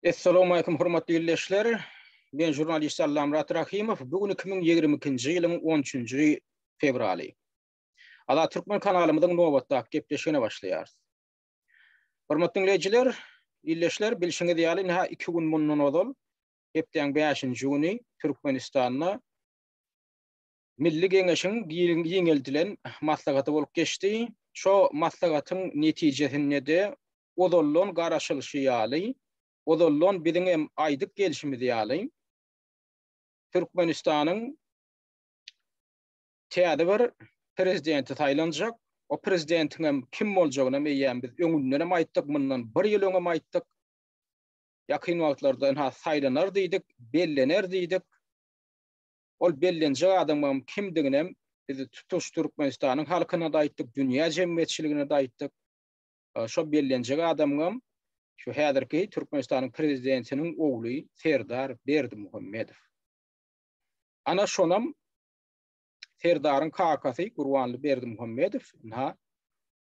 Essalowmaleýkum hormatly ildeşler. Men žurnalist Allamyrat Rahimow. Bu gün 2022-nji ýylyň 13-nji fewraly. Azat Türkmen kanalymyzyň nobatdaky gepleşigine başlaýarys. Hormatly dinleýjiler, ildeşler, bilşiňiz ýaly, ine, iki gün mundan ozal, hepdäň bäşinji güni Türkmenistanda Milli Geňeşiň giňeldilen maslahaty bolup geçdi. Şo maslahatyň netijesinde-de, ozaldan garaşylyşy ýaly, ozaldan biziň hem aýdyp gelşimiz ýaly, Türkmenistanyň täze bir Prezidenti saýlanjak. O Prezidentiň hem kim boljagynam eýýäm biz öňündenem aýtdyk, mundan bir ýyl öňem aýtdyk. Ýakyn wagtlarda ynha saýlanar diýdik, bellener diýdik. Ol bellenjek adamyň kimdiginem biz tutuş Türkmenistanyň halkyna-da aýtdyk, dünýä jemgyýetçiligine-de aýtdyk. Şo bellenjek adamyňam şu häzirki Türkmenistanyň Prezidentiniň ogly Serdar Berdimuhamedow. Ana şonam Serdaryň kakasy Gurbanly Berdimuhamedow ynha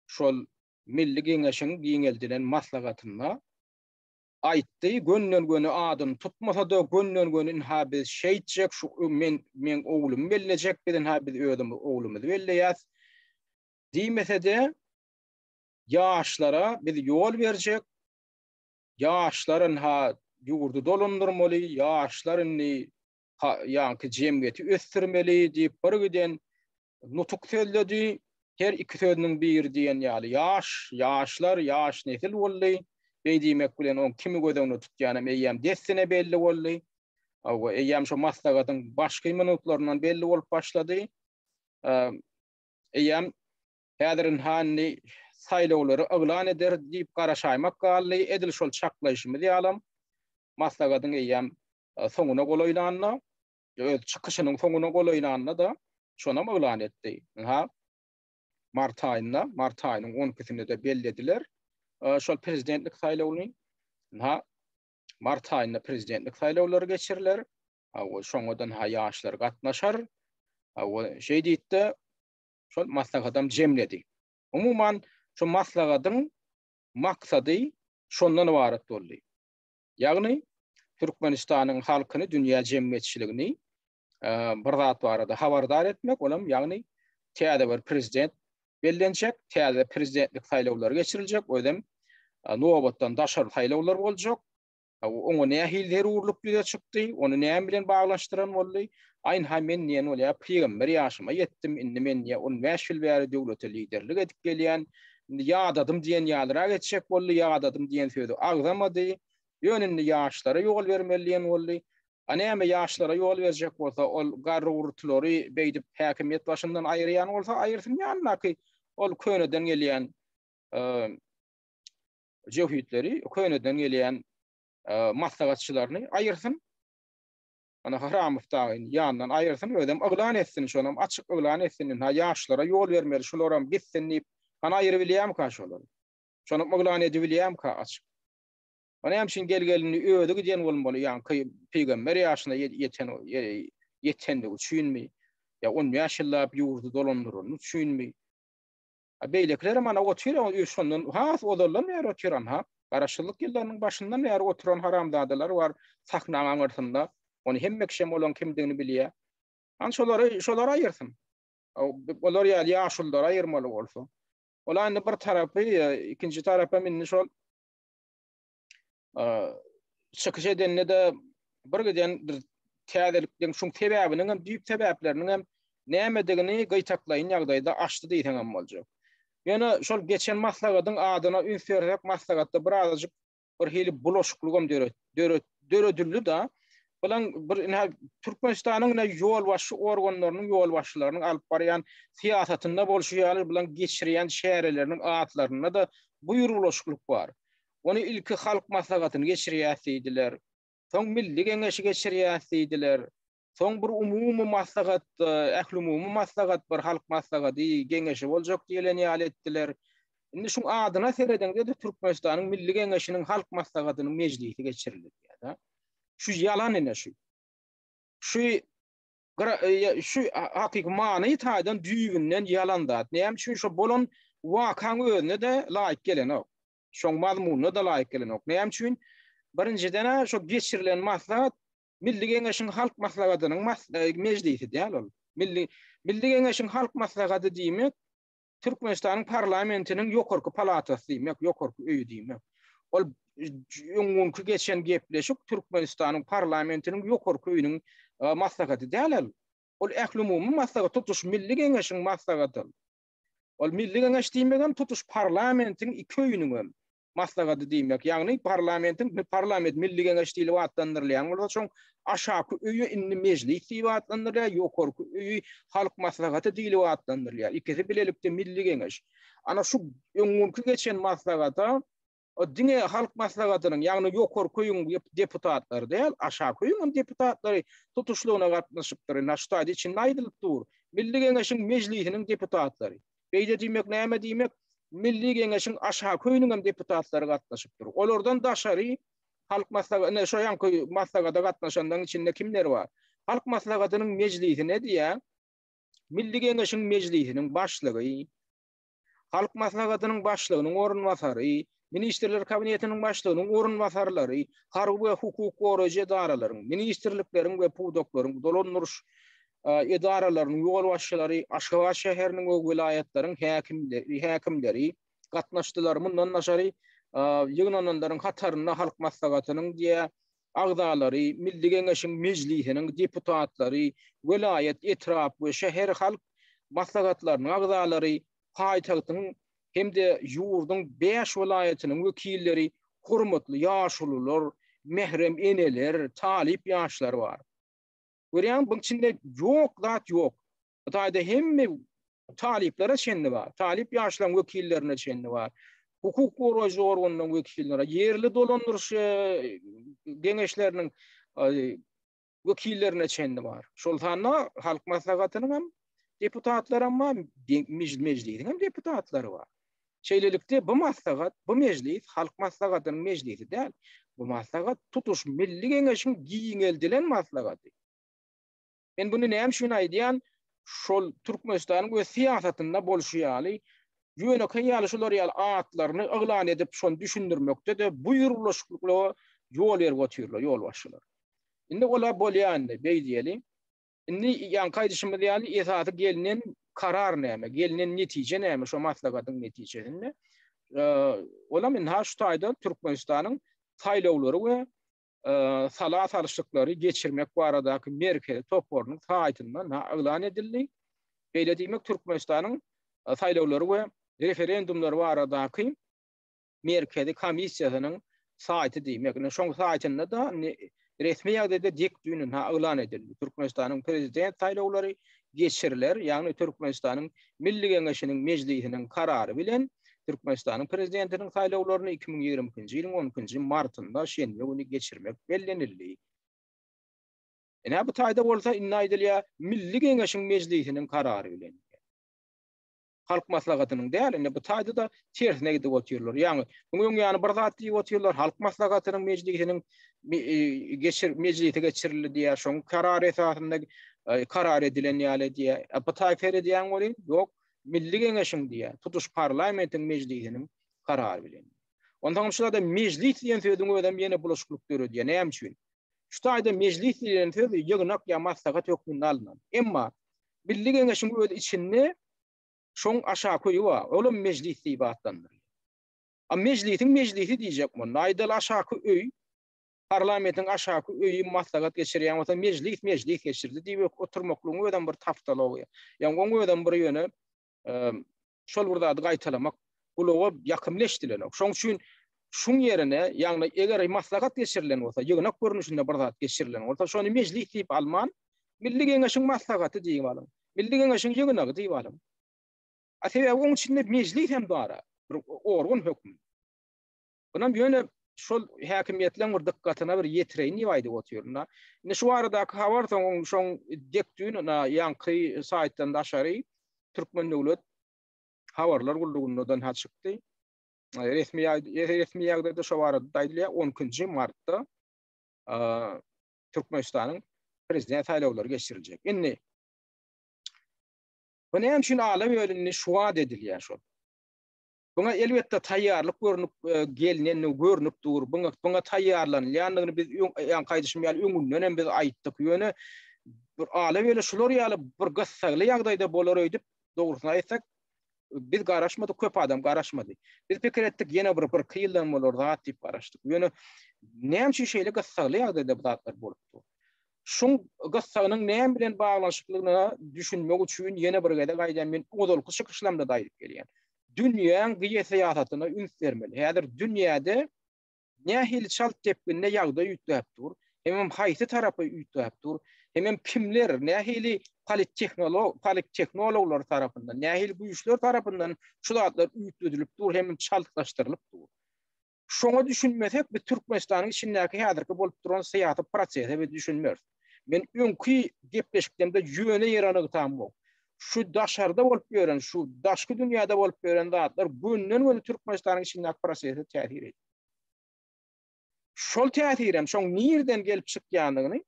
şol Milli Geňeşiň giňeldilen maslahatynda aýtdy, gönden-göni adyny tutmasa-da, gönden-göni ynha biz şeýtjek, şu men, meň oglumy bellejek, biz ynha biz özümiz oglumyzy belleýäs diýmese-de, ýaşlara biz ýol berjek, ýaşlar ynha ýurdy dolandyrmaly, ýaşlar indi ýaňky jemgyýeti ösdürmeli diýip birgiden nutuk sözledi. Her iki sözüniň biri diýen ýaly ýaş, ýaşlar, ýaş nesil boldy. Beý diýmek bilen oň kimi göz öňüne tutýanam eýýäm dessine belli boldy. Hawa, eýýäm şu maslahatyň başky minutlaryndan belli bolup başlady. Eýýäm häzirin hany saýlawlary yglan ederis diýip garaşaýmak galdy. Edil şol çaklaýşymyz ýalam maslahatyň eýýäm soňuna golaýlanda öz çykyşynyň soňuna golaýlanda-da şonam yglan etdi. Ynha, mart aýynda, mart aýynyň on ikisinde-de bellediler şol prezidentlik saýlawyny. Ynha, mart aýynda prezidentlik saýlawlary geçiriler. Awa, şoňadan ha ýaşlar gatnaşar. Awa, şeý diýip-de şol maslahatam jemledi. Umuman, şu maslahatyň maksady şondan ybarat boldy. Ýagny, Türkmenistanyň halkyny, dünýä jemgyýetçiligini bir zat barada habardar etmek, ol hem ýagny täze bir prezident bellenjek, täze prezidentlik saýlawlary geçiriljek, özem nobatdan daşary saýlawlar boljak. Oňa nähili zerurlyk ýüze çykdy, ony näme bilen baglanyşdyran boldy? Aýnha men diýen bolýar, pygamber ýaşyma ýetdim, indi men diýýär, on bäş ýyl bäri döwlete liderlik edip gelýän, Indi ýadadym diýen ýalyrak geçjek boldy, ýadadym diýen sözi agzamady. Ýöne indi ýaşlara ýol bermeli diýen boldy. A näme ýaşlara ýol berjek bolsa, ol garry-gurtulary beýdip häkimiýet başyndan aýyrýan bolsa aýyrsyn ýanyndaky ol köneden gelýän jöhitleri, köneden gelýän maslahatçylaryny aýyrsyn. Ana Haramow dagy ýandan aýyrsyn özem yglan etsin şonam açyk yglan etsin ynha ýaşlara ýol bermeli şularam gitsin diýip hany aýyrybilýämka şolary şonam yglan edibilýämka açyk o näme üçin gel gelindi özi gidýän bolmaly ýaňky pygamber ýaşyna ýeten ýetendigi üçinmi ýa on bäş ýyllap ýurdy dolandyryny üçinmi Beýlekilerem ana otyr, şondan has ozaldan bäri otyran, ha. Garaşsyzlyk ýyllarynyň başyndan bäri oturan haramzadalar bar sahnaň aňyrsynda. Ony hemme kişem olaň kimdigini bilýä. An şolary, şolar aýyrsyn. Olar ýaly ýaşululary aýyrmaly bolsa. Ol indi bir tarapy, ikinji tarapam indi şol. çykyş edende de bir giden bir täzelikden şuň sebäbiniň hem düýp sebäpleriniň hem nämedigini gytaklaýyn ýagdaýda açdy diýseň hem boljak. Ýöne şol geçen maslagatyň adyna üns bererek maslagatda bir azajyk bir hili bulaşyklyk hem döret döredildi da bilen bir ine Türkmenistanyň ine ýolbaşçy organlarynyň ýolbaşçylarynyň alyp barýan syýasatynda bolşy ýaly bilen geçirýän çäreleriniň atlarynda da bu ýurbulaşyklyk bar. Ony ilki Halk Maslahatyny geçirýäs diýdiler. Soň Milli Geňeşi geçirýäs diýdiler. Soň bir umumy maslahat, ählumumy maslahat bar, Halk Maslahady, Geňeşi boljak diýlen ýaly etdiler. Indi şuň adyna serediňde-de Türkmenistanyň Milli Geňeşiniň Halk Maslahatynyň mejlisi geçiriler diýýär-de. Şu ýalan ine şu. Şu şu hakyky many taýdan düýbünden ýalan zat. Näme üçin şo bolan wakaň özüne-de laýyk gelenok. şoň mazmunyna-da laýyk gelenok. Näme üçin? Birinjiden-ä şo geçirilen maslahat Milli Geňeşiň Halk Maslahatynyň mejlisi däl ol. Milli Milli Geňeşiň Halk Maslahaty diýmek Türkmenistanyň parlamentiniň ýokarky palatasy diýmek, ýokarky öýi diýmek. Ol öňňünki geçen gepleşik Türkmenistanyň parlamentiniň ýokarky öýüniň e, maslahaty däl ol. Ol ählumumy maslahat, tutuş milli geňeşiň maslahaty. Ol Milli Geňeş diýmegem tutuş parlamentiň iki öýüniňem maslahady diýmek. Ýagny parlamentiň parlament Milli Geňeş diýlip atlandyrylýan bolsa, şoň aşaky öýi indi mejlis diýip atlandyrylýar, ýokarky öýi halk maslahaty diýlip atlandyrylýar. Ikisi bilelikde Milli Geňeş. Ana şu öňňürki geçen maslahata O diňe halk maslahatynyň, ýagny ýokary köýüň deputatlary däl, aşak köýüň hem deputatlary tutuşlygyna gatnaşypdyr. Indi aştaýda içinde aýdylyp dur. Milli Geňeşiň Mejlisiniň deputatlary. Beýle diýmek näme diýmek? Milli Geňeşiň aşak köýüniň hem deputatlary gatnaşypdyr. Olardan daşary halk maslahaty, ine şo ýanky maslahata gatnaşanlaryň içinde kimler bar? Halk maslahatynyň mejlisine diýýär. Milli Geňeşiň Mejlisiniň başlygy, Halk Maslahatynyň Başlygynyň orunbasary, Ministrler Kabinetiniň Başlygynyň orunbasarlary, harby we hukuk goraýjy edaralaryň, ministrlikleriň we pudaklaryň, dolandyryş edaralarynyň ýolbaşçylary, Aşgabat şäheriniň we welaýatlaryň häkimleri gatnaşdylar. Mundan daşary, ýygnananlaryň hatarynda Halk Maslahatynyň diýe agzalary, Milli Geňeşiň Mejlisiniň deputatlary, welaýat, etrap we şäher halk maslahatlarynyň agzalary, paýtagtyň hem-de ýurduň bäş welaýatynyň wekilleri, hormatly ýaşulular, mährem eneler, talyp ýaşlar bar. Görýäňmi, buň içinde ýok zat ýok. Bu taýda hemme talyplara çenli bar. Talyp ýaşlaryň wekillerine çenli bar. Hukuk goraýjy organlaryň wekilleri, ýerli dolandyryş e, geňeşleriniň e, wekillerine çenli bar. Şol sanda halk maslahatynyň hem deputatlary hem bar, mejlisiň hem deputatlary bar. Şeýlelikde bu maslahat, bu mejlis halk maslahatynyň mejlisi däl. Bu maslahat tutuş milli geňeşiň giňeldilen maslahaty. Men bunu näme üçin aýdýan? Şol Türkmenistanyň öz syýasatynda bolşy ýaly, ýönekeý ýaly şular ýaly atlaryny yglan edip, şony düşündirmekde-de bu ýurlaşyklyga ýol berip otyrlar ýolbaşçylar. Indi ola bolýa indi, beý diýeli. Indi ýaňky aýdyşymyz ýaly esasy gelnen karar näme, gelnen netije näme şo maslagatyň netijesinde? Olam indi ha şu taýdan Türkmenistanyň saýlawlary we sala salşyklary geçirmek baradaky merkezi toparynyň saýtynda yglan edildi. Beýle diýmek Türkmenistanyň saýlawlary we referendumlary baradaky merkezi komissiýasynyň saýty diýmek. Ine şoň saýtynda-da resmi ýagdaýda dik düýn yglan edildi. Türkmenistanyň prezident saýlawlary geçiriler, ýagny Türkmenistanyň Milli Geňeşiniň Mejlisiniň karary bilen Türkmenistanyň Prezidentiniň saýlawlaryny iki müň ýigrimi ikinji ýylyň on ikinji martynda, şenbe güni geçirmek bellenildi. Ine, bu taýda bolsa indi aýdylýar, Milli Geňeşiň Mejlisiniň karary bilen diýýär. Halk maslahatynyň däl, indi bu taýda-da tersine gidip otyrlar. Ýagny, munuň öň ýany bir zat diýip otyrlar, halk maslahatynyň mejlisiniň geçir mejlisi geçirildi diýýär, şoň karary esasynda karar edilen ýaly diýýär. E, bu taýda seredýän welin, ýok, Milli Geňeşiň diýýär, tutuş parlamentiň mejlisiniň karary bilen. Onda hem şu ýerde mejlis diýen sözüň özi hem ýene bulaşyklyk döredýär. Näme üçin? Şu taýda mejlis diýen söz ýygnak ýa maslahat hökmünde alnan. Emma Milli Geňeşiň öz içinde şoň aşaköýi bar, olam mejlis diýip atlandyrylýar. A mejlisiň mejlisi diýjek bolanda, aýdaly aşaky öý, parlamentiň aşaky öýi maslahat geçirýän bolsa, mejlis mejlis geçirdi diýip oturmaklygyň özem bir tapdalygy. Ýa oň özem bir ýöne şol bir zady gaýtalamak gulaga ýakymly eşidilenok. Şoň üçin şuň ýerine, ýagny eger maslahat geçirilen bolsa, ýygnak görnüşinde bir zat geçirilen bolsa, şony mejlis diýip alman, Milli Geňeşiň maslahaty diýip alyň. Milli Geňeşiň ýygnagy diýip alyň. A sebäbi oň içinde mejlis hem bar-a, bir organ hökmünde. Ynam ýöne şol häkimiýetleň bir dykgatyna bir ýetireýin diýip aýdyp otyryn-da. Indi şu baradaky habar soň oň şoň dek düýn ynha ýaňky saýtdan daşary Türkmen döwlet habarlar gullugynda da ynha çykdy. Resmi resmi ýagdaýda şu barada aýdylýar on ikinji martda Türkmenistanyň prezident saýlawlary geçiriljek. Indi Bu näme üçin ala bölündi şu wagt edilýär şol. Buňa elbetde taýýarlyk görnüp gelnendigi görnüp dur. Buňa buňa taýýarlanylýandygyny biz ýaňky aýdyşym ýaly öňünden hem biz aýtdyk. Ýöne bir ala-bela şular ýaly bir gyssagly ýagdaýda bolar öýdüp, dogrusyny aýtsak, biz garaşmadyk, köp adam garaşmady. Biz pikir etdik, ýene bir birki ýyldan bolar zat diýip garaşdyk. Ýöne näme üçin şeýle gyssagly ýagdaýda bu zatlar bolup dur? Şuň gyssagynyň näme bilen baglanyşyklygyna düşünmek üçin ýene bir gezek aýdýan, men ozalky çykyşlamda-da aýdyp gelýän. Dünýäň geosyýasatyna üns bermeli. Häzir dünýäde nähili çalt depginde ýagdaý üýtgäp dur, hemem haýsy tarapa üýtgäp dur, hemem kimler, nähili polittehnologlar tarapyndan, nähili güýçler tarapyndan şu zatlar üýtgedilip dur hemem çaltlaşdyrylyp dur. Şoňa düşünmesek, biz Türkmenistanyň içindäki häzirki bolup duran syýasy prosese biz düşünmeris. Men öňki gepleşiklerimde ýöne ýere nygtamok. Şu daşarda bolup ýören, şu daşky dünýäde bolup ýören zatlar günden-güne Türkmenistanyň içindäki prosese täsir edýär. Şol täsirem, şoň nirden gelip çykýandygyny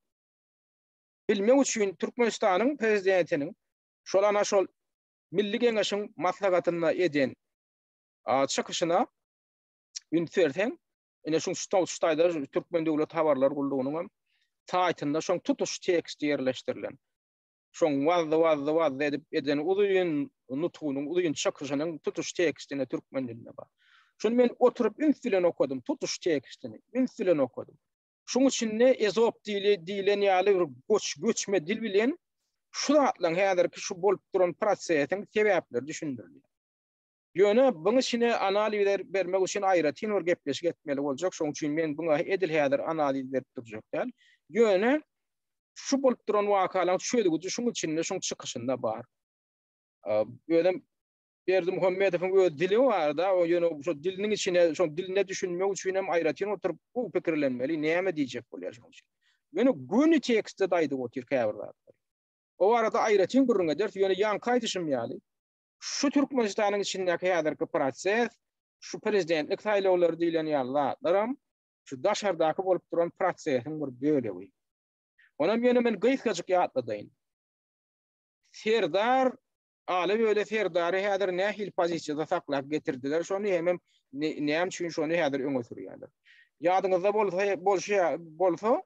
bilmek üçin Türkmenistanyň prezidentiniň şol ana şol Milli Geňeşiň maslahatynda eden çykyşyna üns berseň, ine şu Stolstaýda Türkmen döwlet habarlar gullugynyň hem saýtynda şoň tutuş tekst ýerleşdirilen. Şoň wazzy wazzy wazzy edip eden uzyn nutgunyň uzyn çykyşynyň tutuş tekstini türkmen dilinde bar. Şuny men oturyp üns bilen okadym, tutuş tekstini üns bilen okadym. Şuň üçin-de ezop dili diýlen ýaly bir göç göçme dil bilen şu zatlaryň häzirki şu bolup duran prosesiň sebäpleri düşündirilýär. Ýöne buň içine analiz bermek üçin aýratyn bir gepleşik etmeli boljak, şoň üçin men buňa edil häzir analiz berip durjak däl. Ýöne şu bolup duran wakalaryň çözgüdi şuň içinde, şuň çykyşynda bar. Özem Berdimuhamedowyň öz dili bar-da, o ýöne şu diliniň içine, şu diline düşünmek üçin hem aýratyn oturyp bu pikirlenmeli, näme diýjek bolýar şoň üçin. Ýöne göni tekstde-de aýdyp otyr käbir zatlar. O barada aýratyn gürrüň ederis, ýöne ýaňky aýdyşym ýaly, şu Türkmenistanyň içindäki häzirki proses, şu prezidentlik saýlawlary diýlen ýaly zatlaram şu daşardaky bolup duran prosesiň bir bölegi. Onam ýöne men gysgajyk ýatladaýyn. Serdar Aly böyle Serdary häzir nähili pozisiýada saklap getirdiler, şony hemem näme üçin şony häzir öňe sürýärler. Ýadyňyzda bolsa, bolşy bolsa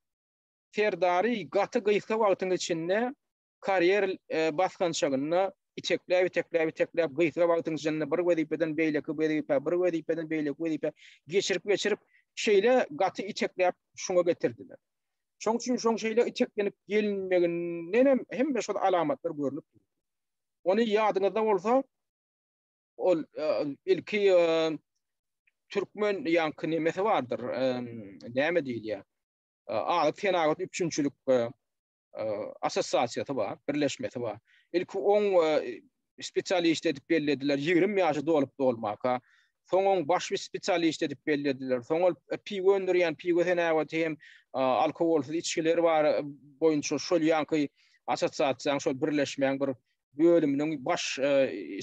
Serdary gaty gysga wagtyň içinde karýer basgançagynda itekläp itekläp itekläp gysga wagtyň içinde bir wezipeden beýleki wezipä bir wezipeden beýleki wezipä geçirip geçirip şeýle gaty itekläp şuňa getirdiler. Şoň üçin şoň şeýle iteklenip gelinmeginden hem hemme şol alamatlar görnüp durýar. Ony ýadyňyzda bolsa ol e, ilki e, türkmen ýaňky nemesi bardyr. E, näme diýilýär? Azyk senagat üpjünçilik assosiasiýasy bar, birleşmesi bar. Ilki on spesialist edip bellediler, 20 ýaşy dolup dolmaka. Soň on baş spesialist edip bellediler. Soň ol piwo öndürýän piwo senäweti hem alkogolsyz içgiler bar boýunça şol ýanky assosiasiýanyň şol birleşmäň bir bölüminiň baş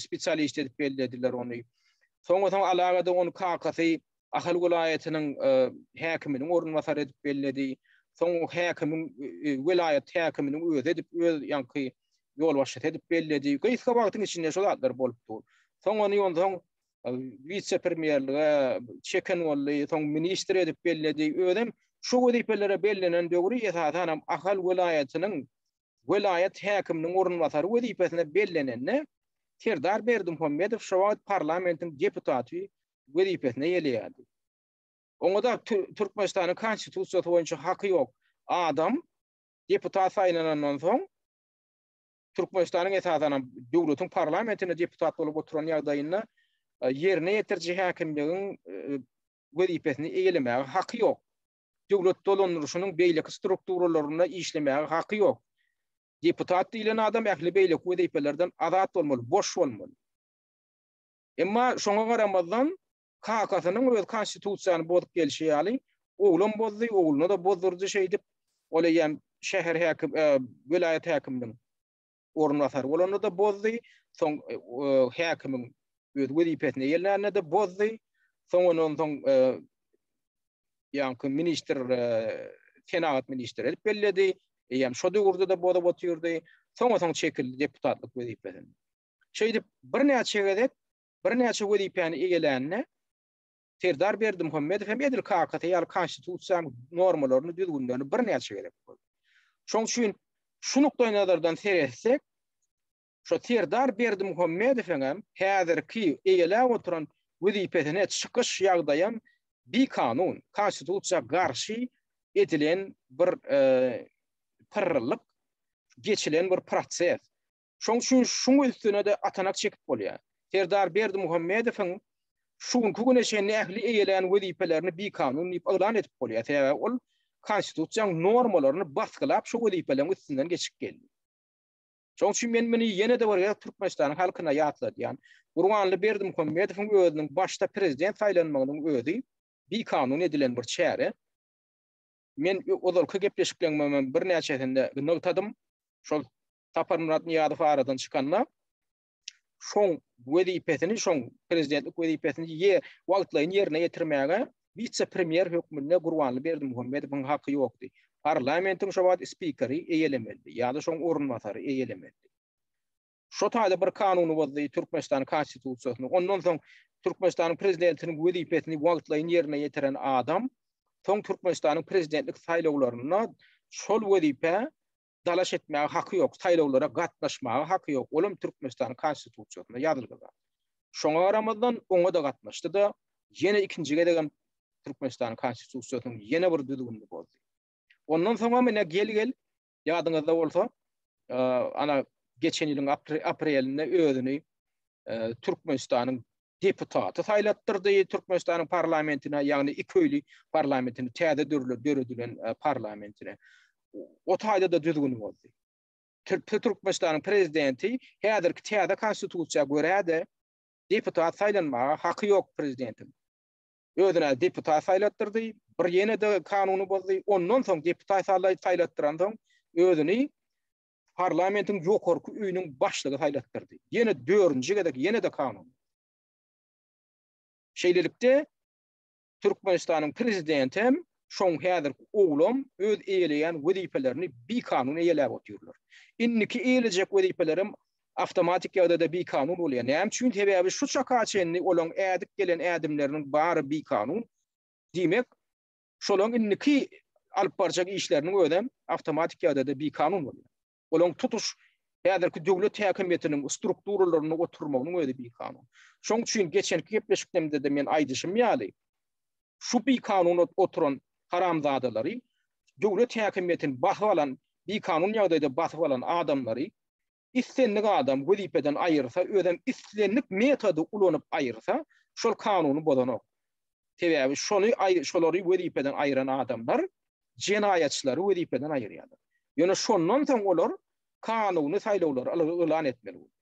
spesialist edip bellediler ony. Soň-soň alagada on kakasy Ahal welaýatynyň häkiminiň orunbasary edip belledi. Soň häkimiň welaýat häkiminiň özi edip öz ýaňky ýolbaşçysy edip belledi. Gysga wagtyň içinde şu zatlar bolup dur. Soň ony ýonsoň wise-premýerlige çeken boldy, soň ministr edip belledi. Özem şu wezipelere bellenen döwri esasan hem Ahal welaýatynyň welaýat häkiminiň orunbasary wezipesine bellenende Serdar Berdimuhamedow şu wagt parlamentiň deputaty wezipesine ýeleýärdi. Oňada Türkmenistanyň Konstitusiýasy boýunça haky ýok adam deputat saýlanandan soň Türkmenistanyň esasanam döwletiň parlamentinde deputat bolup oturan ýagdaýynda e, ýerine ýetiriji häkimligiň e, wezipesini eýelemäge haky ýok. Döwlet dolandyryşynyň beýleki strukturalarynda işlemäge haky ýok. Deputat diýlen adam ähli beýleki wezipelerden azat bolmaly, boş bolmaly. Emma şoňa garamazdan, kakasynyň öz konstitusiýany bozup gelşi ýaly, oglam bozdy, ogluna-da bozdurdy şeýdip, ol eýýäm şäher häkim, welaýat häkiminiň orunbasary bolanda-da bozdy, soň häkimiň öz wezipesine gelnände-de bozdy, soň ondan soň ýaňky ministr, senagat ministri edip belledi, eýýäm şo döwürde-de bozup otyrdy, soňa soň çekildi deputatlyk wezipesinden. Şeýdip, birnäçe gezek birnäçe wezipäni eýelände, Serdar Berdimuhamedow hem edil kakasy ýaly Konstitusiýanyň normalaryny, düzgünlerini birnäçe gezek bozdy. Şoň üçin şu nukdaýnazardan seretsek, şo Serdar Berdimuhamedowyň hem häzirki eýeläp oturan wezipesine çykyş ýagdaýy hem bikanun, Konstitusiýa garşy edilen bir e, pyrrylyk, geçilen bir proses. Şoň üçin şuň üstüne-de atanak çekip bolýar. Serdar Berdimuhamedowyň şu günki güne çenli ähli eýelän wezipelerini bikanun diýip yglan edip bolýar, sebäbi ol konstitusiýanyň normalaryny basgylap şu wezipeleriň üstünden geçip geldi. Şoň üçin men muny ýene-de bir gezek Türkmenistanyň halkyna ýatladýan. Gurbanly Berdimuhamedowyň özüniň başda prezident saýlanmagynyň özi bikanun edilen bir çäre. Men ozalky gepleşiklerimde birnäçesinde nygtadym. Şol Saparmyrat Nyýazow aradan çykanda şoň wezipesini, şoň prezidentlik wezipesini ýe wagtlaýyn ýerine ýetirmäge wise-premýer hökmünde Gurbanly Berdimuhamedowyň haky ýokdy. Parlamentiň şo wagt spikeri eýelemelidi ýa-da şoň orunbasary eýelemelidi. Şo taýda bir kanuny bozdy, Türkmenistanyň Konstitusiýasyny. Ondan soň Türkmenistanyň prezidentiniň wezipesini wagtlaýyn ýerine ýetiren adam soň Türkmenistanyň prezidentlik saýlawlarynda şol wezipä dalaş etmäge haky ýok, saýlawlara gatnaşmaga haky ýok, olam Türkmenistanyň Konstitusiýasynda ýazylgy zat. Şoňa garamazdan, oňa-da gatnaşdy-da, ýene ikinji gezegem Türkmenistanyň Konstitusiýasynyň ýene bir düzgünini bozdy. Ondan soňam ine gel-gel, ýadyňyzda bolsa, ana geçen ýylyň aprelinde özüni Türkmenistanyň deputaty saýlatdyrdy Türkmenistanyň parlamentine, ýagny iki öýli parlamentine, täze döredilen e, parlamentine. O taýda-da düzgün bozdy. Türkmenistanyň prezidenti häzirki täze konstitusiýa görä-de deputat saýlanmaga haky ýok prezidentiň. Özüne deputat saýlatdyrdy, bir ýene-de kanuny bozdy. Ondan soň deputat saýlatdyran soň özüni parlamentiň ýokarky öýüniň başlygy saýlatdyrdy. Ýene dördünji gezek ýene-de kanun. Şeýlelikde Türkmenistanyň prezidenti hem şoň häzirki oglam öz eýeleýän wezipelerini bikanun eýeläp otyrlar. Indiki eýelejek wezipelerim awtomatik ýagdaýda bikanun bolýar. Näme üçin? Sebäbi şu çaka çenli olaň ädip gelen ädimleriniň bary bikanun. Diýmek, Şolaň indiki alyp barjak işleriniň özem awtomatik ýagdaýda bikanun bolýar. Olaň tutuş häzirki döwlet häkimiýetiniň strukturalaryny oturmagynyň özi bikanun. Şoň üçin geçenki gepleşiklerimde-de men aýdyşym ýaly, şu bikanun oturan haramzadalary, döwlet häkimiýetini basyp alan, bikanun ýagdaýda basyp alan adamlary islendik adam wezipeden aýyrsa, özem islendik metody ulanyp aýyrsa, şol kanuny bozanok. Sebäbi şony şolary wezipeden aýyran adamlar jenaýatçylary wezipeden aýyrýarlar. Ýöne şondan soň olar kanuny saýlawlary yglan etmeli bolýar.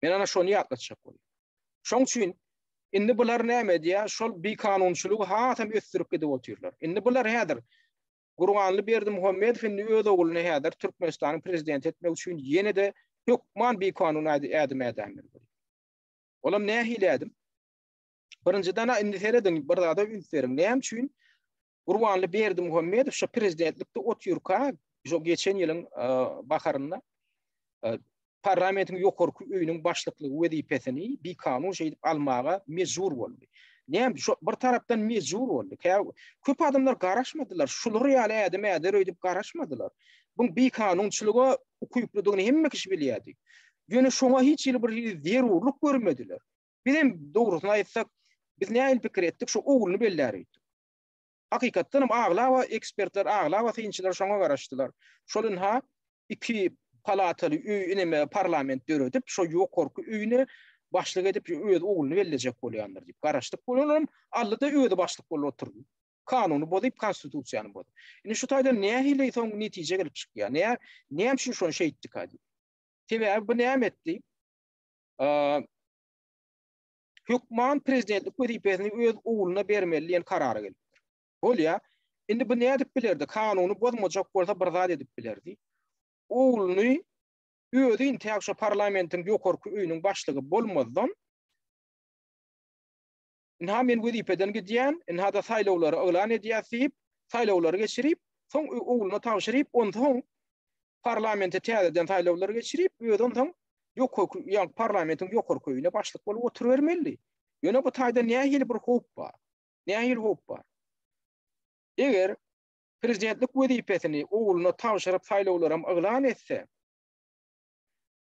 Men ana şony ýatlatjak boldum. Şoň üçin indi bular näme edýär? Şol bikanunçylygy hasam ösdürip gidip otyrlar. Indi bular häzir Gurbanly Berdimuhamedow indi öz ogluny häzir Türkmenistanyň prezidenti etmek üçin ýene-de hökman bikanun ädim ädändir. Olam nähili ädim? Birinjiden indi serediň, bir zada üns beriň. Näme üçin Gurbanly Berdimuhamedow şu prezidentlikde otyrka, şu geçen ýylyň baharynda Parlamentiň ýokarky öýüniň başlyklygy wezipesini bikanun şeýdip almaga mejbur boldy. Näme şu bir tarapdan mejbur boldy. Köp adamlar garaşmadylar. Şular ýaly ädim äder öýdüp garaşmadylar. Bu bikanunçylyga ukyplydygyny hemme kişi bilýärdi. Ýöne şoňa hiç hili bir zerurlyk görmediler. Biz hem dogrusyny aýtsak, biz nähili pikir etdik, şu ogluny bellärik. Hakykatdanam aglaba ekspertler, aglaba synçylar şoňa garaşdylar. Şol ynha, iki palataly öý, ineme parlament döredip, şo ýokarky öýüne başlyk edip öz ogluny bellejek bolýandyr diýip garaşdyk. Olaram aldy-da özi başlyk bolup oturdy. Kanuny bozup, konstitusiýany bozup. Indi şu taýdan nähili soň netije gelip çykýar? Näme, näme üçin şony şeýtdika diýip. Sebäbi bu näme etdi? hökman prezidentlik wezipesini öz ogluna bermeli diýen karara gelipdir. Bolýa, indi bu ne edip bilerdi? Kanuny bozmajak bolsa bir zat edip bilerdi. Ogluny özi intäk şu parlamentiň ýokarky öýüniň başlygy bolmazdan Inha men wezipeden gidýän, inha da saýlawlary yglan edýär diýip, saýlawlary geçirip, soň ogluna tabşyryp, onsoň parlamente täzeden saýlawlar geçirip, özi onsoň ýokarky, ýa parlamentiň ýokarky öýüne başlyk bolup oturybermeli. Ýöne bu taýda nähili bir howp bar? Nähili howp bar? Eger prezidentlik wezipesini ogluna tabşyryp saýlawlaram yglan etse,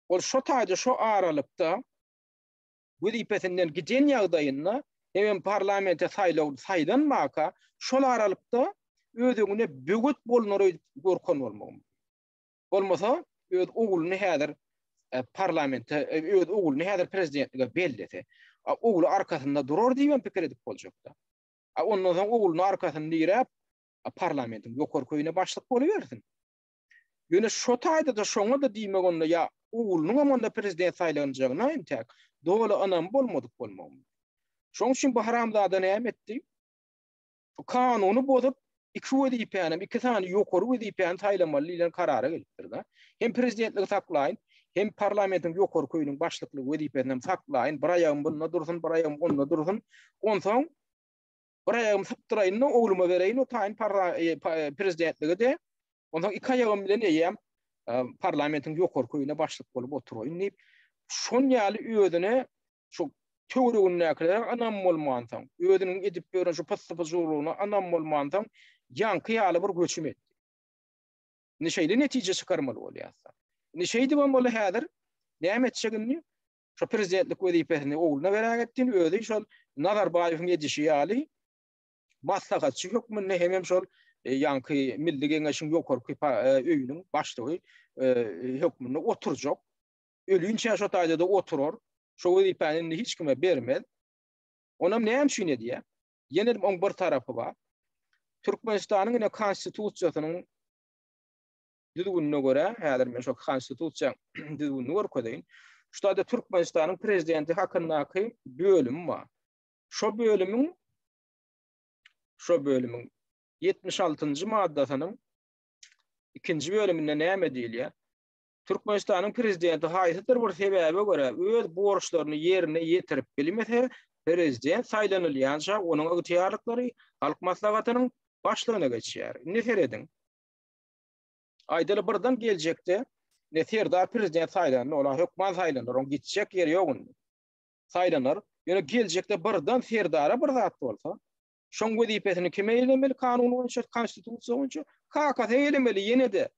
ol şo taýda şo aralykda wezipesinden giden ýagdaýynda hemem parlamente saýlawly saýlanmaka şol aralykda öz öňüne böwet bolnar öýdüp gorkan bolmagy mümkin. Bolmasa öz ogluny häzir e, parlamente e, öz ogluny häzir prezidentlige bellese, ogly arkasynda durar diýip pikir edip boljakda. Ondan soň ogluny arkasyny diräp parlamentiň ýokary köýüne başlyk bolubersin. Ýöne şo taýda-da şoňa-da diýmek onda ýa oglunyňam onda prezident saýlanjagyna entäk doly ynamy bolmadyk bolmagy mümkin. Şoň üçin bu haramzada näme etdi? Bu kanuny bozup, iki wezipänem, iki sany ýokary wezipäni saýlamaly diýlen karara gelipdir-de. Hem prezidentligi saklaýyn, hem parlamentiň ýokary köýüniň başlyklygy wezipesinem saklaýyn, bir aýagym bunda dursun, bir aýagym onda dursun. Onsoň Bir aýagym sypdyraýyn-da, ogluma bereýin, o taýyn prezidentlige-de, onsoň iki aýagym bilen eýýäm parlamentiň ýokarky öýüne başlyk bolup oturaýyn diýip, şon ýaly özüne şu töweregindäkilere ynam bolmansoň, özüniň edip ýören şu pyssy-pyjuwlygyna ynam bolmansoň, ýaňky ýaly bir göçüm etdi. Indi şeýle netije çykarmaly bolýarys-da. Indi şeýdibem boldy häzir, näme etjek indi? şo prezidentlik wezipesini ogluna beräk etdin, özi şol Nazarbaýewiň edişi ýaly maslahatçy hökmünde hemem şol e, ýaňky Milli Geňeşiň ýokarky e, öýüniň başlygy e, hökmünde oturjak. Ölünçä şo taýda-da oturar. Şo wezipäni indi hiç kime bermez. Onam näme üçin edýär? Ýene oň bir tarapy bar. Türkmenistanyň ine konstitusiýasynyň düzgünine görä, häzir men şo Konstitusiýaň düzgünini görkezeýin. Şuda-da Türkmenistanyň prezidenti hakyndaky bölüm bar. Şo bölümiň şo bölümiň 76-njy maddasynyň ikinji bölüminde näme diýilýär? Türkmenistanyň prezidenti haýsydyr bir sebäbe görä öz borçlaryny ýerine ýetirip bilmese, prezident saýlanylýança onuň ygtyýarlyklary Halk Maslahatynyň başlygyna geçýär. Indi serediň. Aýdaly birden geljekde ne Serdar prezident saýlandy, olar hökman saýlanar, oň gitjek ýeri ýok indi. Saýlanar. Ýöne geljekde birden Serdara bir zat bolsa, şoň wezipesini kim eýlemeli kanun boýunça, konstitusiýa boýunça? Kakasy eýlemeli ýene-de.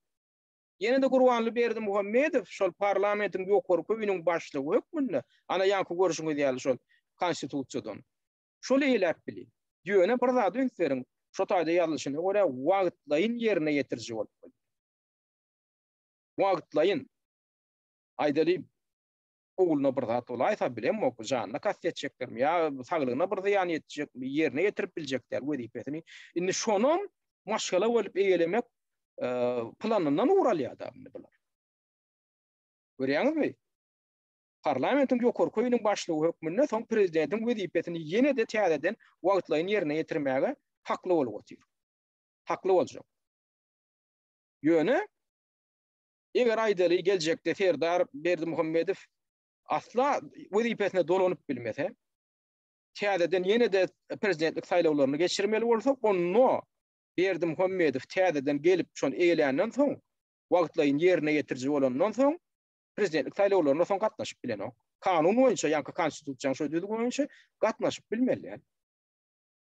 Ýene-de Gurbanly Berdimuhamedow şol parlamentiň ýokarky öýüniň başlygy hökmünde, ana ýaňky görşüňiz ýaly şol konstitusiýadan. Şol eýläp bilin. Ýöne bir zada üns beriň, şo taýda ýazylyşyna görä wagtlaýyn ýerine ýetiriji bolup gelýär. Wagtlaýyn. Aýdalyň, ogluna bir zat bolaýsa, bilemok, janyna kast etjekdirmi ýa saglygyna bir zyýan ýetjekmi, ýerine ýetirip biljek däl wezipesini. Indi şonam maşgala bolup eýelemek planyndan ugur alýar-da indi bular. Görýäňizmi? Parlamentiň ýokary köýüniň başlygy hökmünde soň prezidentiň wezipesini ýene-de täzeden wagtlaýyn ýerine ýetirmäge hakly bolup otyr. Hakly boljak. Ýöne, eger aýdaly geljekde Serdar Berdimuhamedow asla wezipesine dolanyp bilmese, täzeden ýene-de prezidentlik saýlawlaryny geçirmeli bolsa, onda Berdimuhamedow täzeden gelip şony eýeländen soň, wagtlaýyn ýerine ýetiriji bolandan soň, prezidentlik saýlawlaryna soň gatnaşyp bilenok. Kanun boýunça, ýaňky Konstitusiýanyň şo düzgüni boýunça gatnaşyp bilmeli.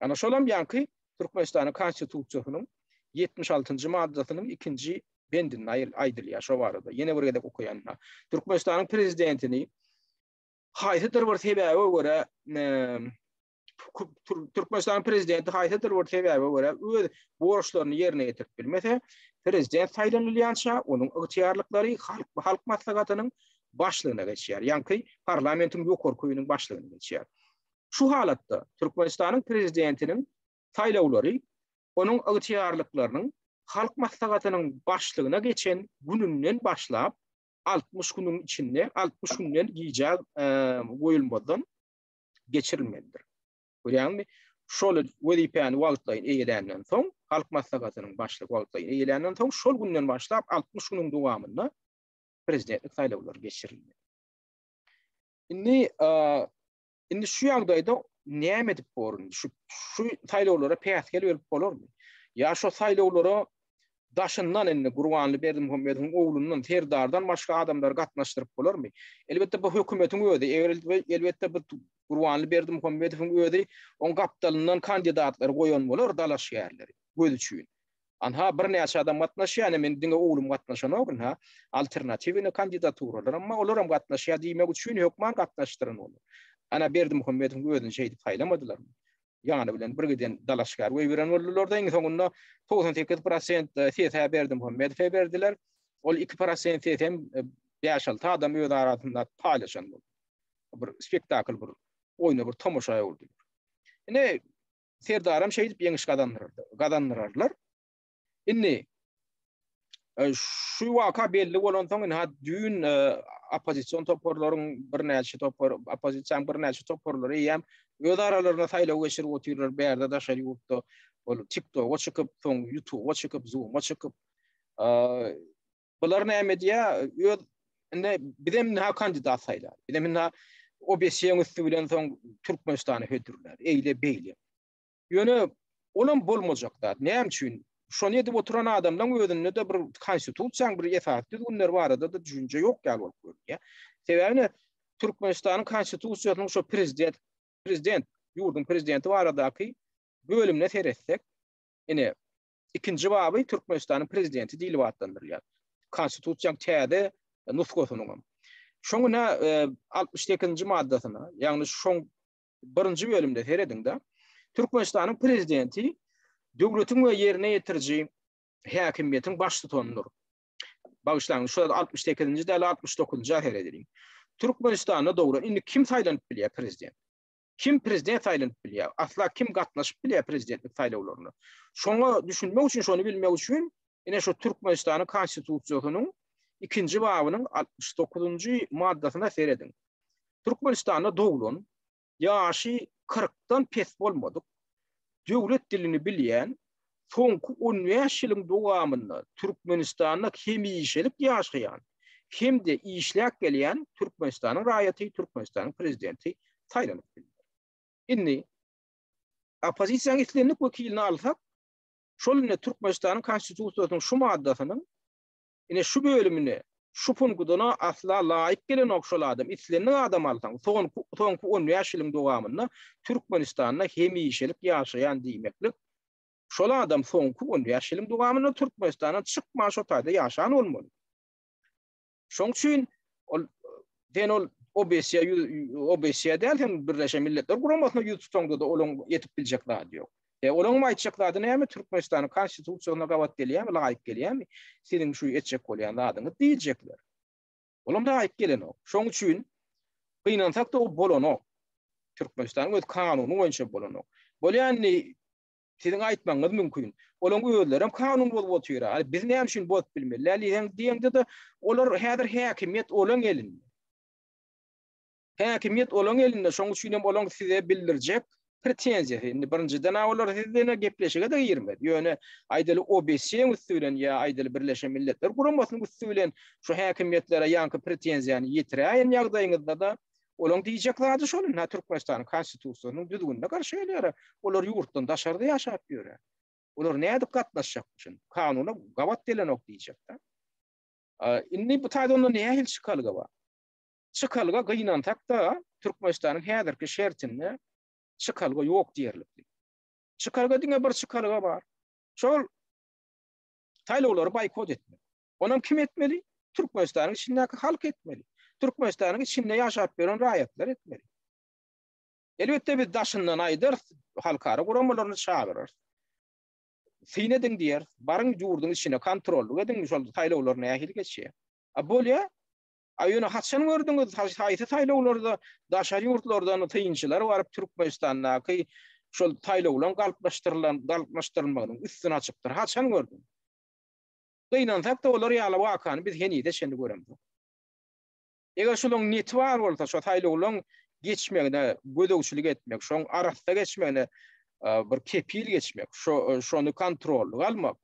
Ana şolam ýaňky Türkmenistanyň Konstitusiýasynyň 76-njy maddasynyň ikinji bendinde aýdylýar şo barada. Ýene bir gezek okaýanna. Türkmenistanyň prezidentini haýsydyr bir sebäbe görä Türkmenistanyň prezidenti haýsydyr bir sebäbe görä öz borçlaryny ýerine ýetirip bilmese, prezident saýlanylýança onuň ygtyýarlyklary halk halk maslahatynyň başlygyna geçýär. Ýaňky parlamentiň ýokary köýüniň başlygyna geçýär. Şu halatda Türkmenistanyň prezidentiniň saýlawlary onuň ygtyýarlyklarynyň halk maslahatynyň başlygyna geçen gününden başlap 60 günüň içinde 60 günden gijä e, goýulmadan geçirilmelidir. Görýäňmi? Şol wezipäni wagtlaýyn eýeländen soň, halk maslahatynyň başlygy wagtlaýyn eýeländen soň, şol günden başlap 60 günüň dowamynda prezidentlik saýlawlary geçirilmeli. Indi indi şu ýagdaýda näme edip borun? Şu şu saýlawlara päsgel berip bolarmy? Ýa şu saýlawlara Daşyndan indi Gurbanly Berdimuhamedowyň oglundan, Serdardan başga adamlary gatnaşdyryp bolarmy? Elbetde bu hökümetiň özi, elbetde bu Gurbanly Berdimuhamedowyň özi oň gapdalyndan kandidatlary goýan bolar, dalaşgärleri, göz üçin. Anha birnäçe adam gatnaşýar, ine meniň diňe oglum gatnaşanok ynha, alternatiwnyý kandidaturalar, emma olaram gatnaşýar diýmek üçin hökman gatnaşdyran bolar. Ana Berdimuhamedowyň özüni şeýdip saýlamadylarmy? ýany bilen bir giden dalaşgär goýberen boldular-da, iň soňunda togsan sekiz prosent sesä Berdimuhamedowa berdiler. Ol iki prosent sesem bäş-alty adam öz arasynda paýlaşan boldy. Bir spektakl, bir oýna, bir tomaşa öwrüdiler. Ine, Serdaram şeýdip ýeňiş gazandyrar, gazandyrarlar. Indi e, şu waka belli bolansoň indi hat düýn e, oppozision toparlaryň birnäçe topar oppozision birnäçe toparlary hem öz aralarynda saýlaw geçirip otyrlar bärde daşary ýurtda ol TikTok-a çykyp, soň YouTube-a çykyp, Zoom-a çykyp. E, bular näme diýýär? Öz indi biz hem näme kandidat saýlar. Biz hem näme OBS-iň üsti bilen soň Türkmenistany hödürler. Eýle beýle. Ýöne olam bolmajak zat. Näme üçin? Şony edip oturan adamlaryň özünde de bir konstitusiýanyň bir esas düzgünleri barada da düşünje ýok ýaly bolup görünýär. Sebäbi Türkmenistanyň konstitusiýasynyň şu prezident prezident ýurduň prezidenti baradaky bölümine seretsek, ine ikinji baby Türkmenistanyň prezidenti diýlip atlandyrylýar. Konstitusiýanyň täze nusgasynyň. Şoňa 68-nji e, maddasyna, ýagny şoň Birinji bölümde serediňda Türkmenistanyň prezidenti döwletiň we ýerine ýetiriji häkimiýetiň baştutanydyr. Bagyşlaň, şu 68-nji däl 69-njy ahyr ediliň. Türkmenistanda dogry indi kim saýlanyp bilýär prezident? Kim prezident saýlanyp bilýär? Asla kim gatnaşyp bilýär prezidentlik saýlawlaryna? Şoňa düşünmek üçin, şony bilmek üçin ine şu Türkmenistanyň konstitusiýasynyň 2-nji babynyň 69-njy maddasyna serediň. Türkmenistanda doglan, ýaşy kyrkdan pes bolmadyk, döwlet dilini bilýän, soňky on bäş ýylyň dowamynda Türkmenistanda hemişelik ýaşaýan hem-de işläp gelýän Türkmenistanyň raýaty Türkmenistanyň Prezidenti saýlanyp bilner. Indi oppozisiýanyň islendik wekilini alsak, şol indi Türkmenistanyň Konstitusiýasynyň şu maddasynyň Ine şu bölümine şu punkudana asla laýyk gelenok şol adam islendik adam alsaň soňky on bäş ýylyň dowamynda Türkmenistanda hemişelik ýaşaýan diýmeklik şol adam soňky on bäş ýylyň dowamynda Türkmenistandan çykman şo taýda ýaşan bolmaly şoň üçin ol sen ol OBSE OBSE däl sen Birleşen Milletler Guramasyna ýüz tutaňda-da olaň ýetip biljek zady ýok E, olaň bu aýtjak zady näme? Türkmenistanyň Konstitusiýasyna gabat gelýärmi, laýyk gelýärmi? Siziň şu etjek bolýan zadyňyz diýjekler. Olam laýyk gelenok. Şoň üçin gynansak-da ol bolanok. Türkmenistanyň öz kanuny boýunça bolanok. Bolýa indi siziň aýtmagyňyz mümkin. Olaň özleri hem kanun bozup otyra. Hany biz näme üçin bozup bilmeli? Diýeňde-de, olar häzir häkimiýet olaň elinde. Häkimiýet olaň elinde, şoň üçin hem olaň size bildirjek pretenziýasy, indi birinjiden-ä olar siz bilen gepleşige-de girmez, ýöne, aýdaly, OBS-iň üsti bilen ýa, aýdaly, Birleşen Milletler Guramasynyň üsti bilen şu häkimiýetlere ýaňky pretenziýany ýetiräýen ýagdaýyňyzda-da, olaň diýjek zady şol, indi-hä Türkmenistanyň Konstitusiýasynyň düzgünine garşy gelýär-ä, olar ýurtdan daşarda ýaşap ýör-ä. Olar nädip gatnaşjak bu şunda? Kanuna gabat gelenok diýjek-dä. Indi bu taýda onda nähili çykalga bar? Çykalga gynansak-da, Türkmenistanyň häzirki şertinde çykalga ýok diýerlikdi. Çykalga diňe bir çykalga bar. Şol saýlawlary boýkot etmek. Onam kim etmeli? Türkmenistanyň içindäki halk etmeli. Türkmenistanyň içinde ýaşap ýören raýatlar etmeli. Elbetde biz daşyndan aýdarys, halkara guramalaryny çagyrarys. Syn ediň diýeris, baryň ýurduň içine kontrollyk ediň, şol saýlawlar nähili geçýär. A bolýa, A ýöne haçan gördüňiz, haýsy saýlawlarda daşary ýurtlardan synçylar baryp Türkmenistandaky şol saýlawlaryň galplaşdyrylan, galplaşdyrylmagynyň üstüni açypdyr? Haçan gördüň? Gynansak-da olar ýaly wakany biz henize çenli göremzok. Eger şularyň neti bar bolsa, şo saýlawlaryň geçmegine gözegçilik etmek, şoň arassa geçmegine bir kepil geçmek, şo şony kontrollyga almak,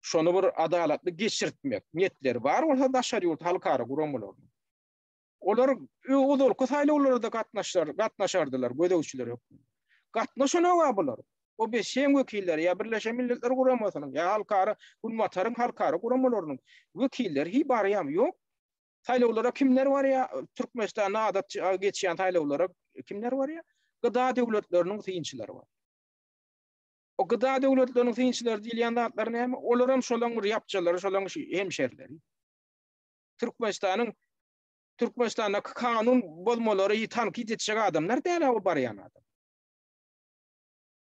şony bir adalatly geçirtmek niýetleri bar bolsa daşary ýurt halkara guramalarynyň, olar ozalky saýlawlarda-da gatnaşar, gatnaşardylar gözegçiler hökmünde. Gatnaşan-ow-a bular. OBSE-iň wekilleri ýa Birleşen Milletler Guramasynyň ýa halkara, Günbataryň halkara guramalarynyň wekilleri hiý barýamy, ýok? Saýlawlara kimler barýa, Türkmenistanda adat geçýän saýlawlara kimler barýa? GDA döwletleriniň synçylary bar. O gyda döwletleriniň synçylary diýilýän zatlar näme? Olaram şolaň bir ýapjalary, şolaň hemşerileri. Türkmenistanyň Türkmenistandaky kanun bozmalary tankyt etjek adamlar däl-ä o barýan adam.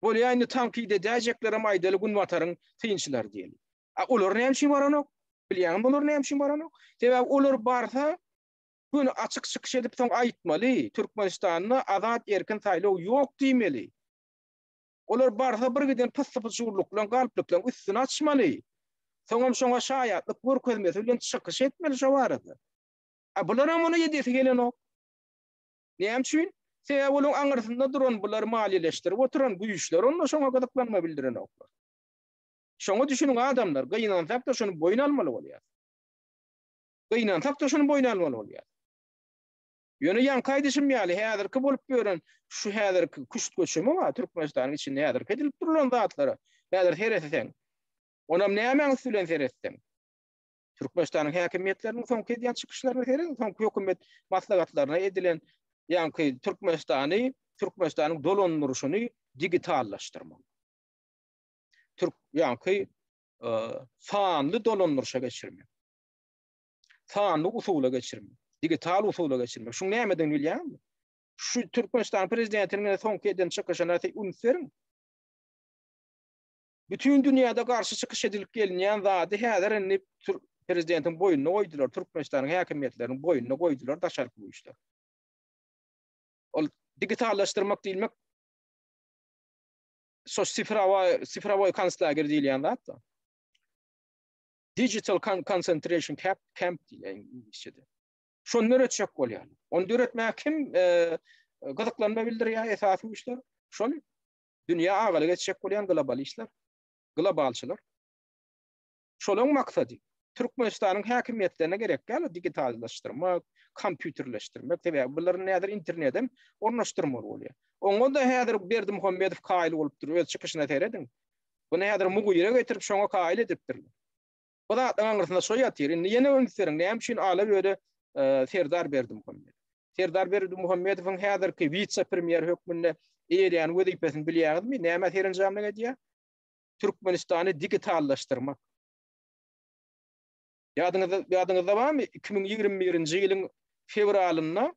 Bolýa indi tankyt edäýjeklerem aýdaly günbataryň synçylary diýeli. A olar näme üçin baranok? Bilýäňmi olar näme üçin baranok? Sebäbi olar barsa gün açyk çykyş edip soň aýtmaly, Türkmenistanda azat erkin saýlaw ýok diýmeli. Olar barsa birgiden pyssy-pyşurlyklaň galplyklaň üstüni açmaly. Soňam şoňa şaýatlyk görkezmesi bilen çykyş etmeli şo barada. A bularam ony edesi gelenok. Näme üçin? Sebäbi olaň aňyrsynda duran bulary maliýeleşdirip oturan güýçler onda şoňa gyzyklanma bildirenoklar. Şoňa düşüniň adamlar, gynansak-da şuny boýun almaly bolýas. Gynansak-da şuny boýun almaly bolýas. Ýöne ýaňky aýdyşym ýaly, häzirki bolup ýören şu häzirki küşt göçümi bar, Türkmenistanyň içinde häzirki edilip durlan zatlara häzir seretseň, onam nämäň üsti bilen seretseň, Türkmenistanyň häkimiýetleriniň soňky edýän çykyşlaryna seret, soňky hökümet maslahatlaryna edilen ýaňky Türkmenistany, Türkmenistanyň dolandyryşyny digitallaşdyrmak. Türk ýaňky e, sanly dolandyryşa geçirmek. sanly usula geçirmek, digital usula geçirmek. Şuň nämeden bilýärmi? Şu Türkmenistan prezidentiniň soňky eden çykyşyna üns beriň. Bütün dünýäde garşy çykyş edilip gelinýän zady häzir indi prezidentiň boýnuna goýdular, Türkmenistanyň häkimiýetleriniň boýnuna goýdular daşarky güýçler. Ol digitallaşdyrmak diýmek şo sifrawa sifrawoý konslager diýilýän zat da. Digital Concentration Camp diýýär iňlisçede. Şony döretjek bolýar. Onu döretmäge kim gyzyklanma bildirýär esasy güýçler? Şol dünýä agalyk etjek bolýan globalistler, globalçylar. Şolaryň maksady Türkmenistanyň häkimiýetlerine gerek däl digitallaşdyrmak, kompýuterleşdirmek, sebäbi bular näder internetden ornaşdyrmaly bolýar. Oňa da häzir Berdimuhamedow kaýyl bolup dur, öz çykyşyna serediň. Muny häzir Mugyra getirip, şoňa kaýyl edipdirler. Bu zatlaryň aňrysynda şo ýatyr. Indi ýene üns beriň, näme üçin Alaböde serdar Berdimuhamedow? Serdar Berdimuhamedowyň häzirki wise-premýer hökmünde eýeleýän wezipesini bilýäňizmi? Nämä serenjamlyk edýär? Türkmenistany digitallaşdyrmak. Ýadyňyzda barmy, iki müň ýigrimi birinji ýylyň fewralynda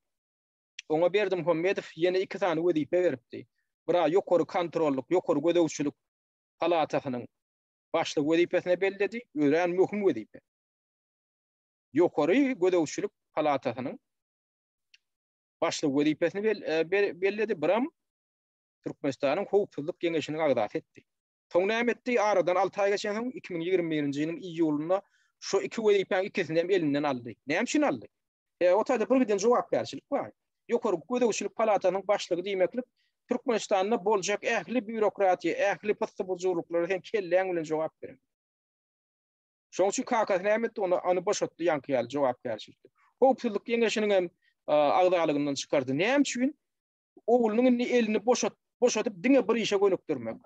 Oňa Berdimuhamedow ýene iki sany wezipe beripdi. Bra ýokary kontrollyk, ýokary gözegçilik palatasynyň başlygy wezipesine belledi, örän möhüm wezipe. Ýokary gözegçilik palatasynyň başlygy wezipesini e, belledi, Bram Türkmenistanyň howpsuzlyk geňeşiniň agzasy etdi. Soň näme etdi? Aradan alty aý geçensoň, iki müň ýigrimi birinji ýylyň iýulynda şu iki wezipäniň ikisini hem elinden aldy. Näme üçin aldy? E, o taýda birgiden jogapkärçilik bar. Ýokary gözegçilik palatasynyň başlygy diýmeklik, Türkmenistanda boljak ähli býurokratiýa, ähli pyssy-bujurlyklara sen kelläň bilen jogap bereňok. Şonuň üçin kakasy näme etdi? Ony, ony boşatdy ýaňky ýaly jogapkärçilikden. Howpsuzlyk geňeşiniň hem agzalygyndan çykardy. Näme üçin? oglunyň indi elini boşat, boşadyp diňe bir işe gönükdirmek.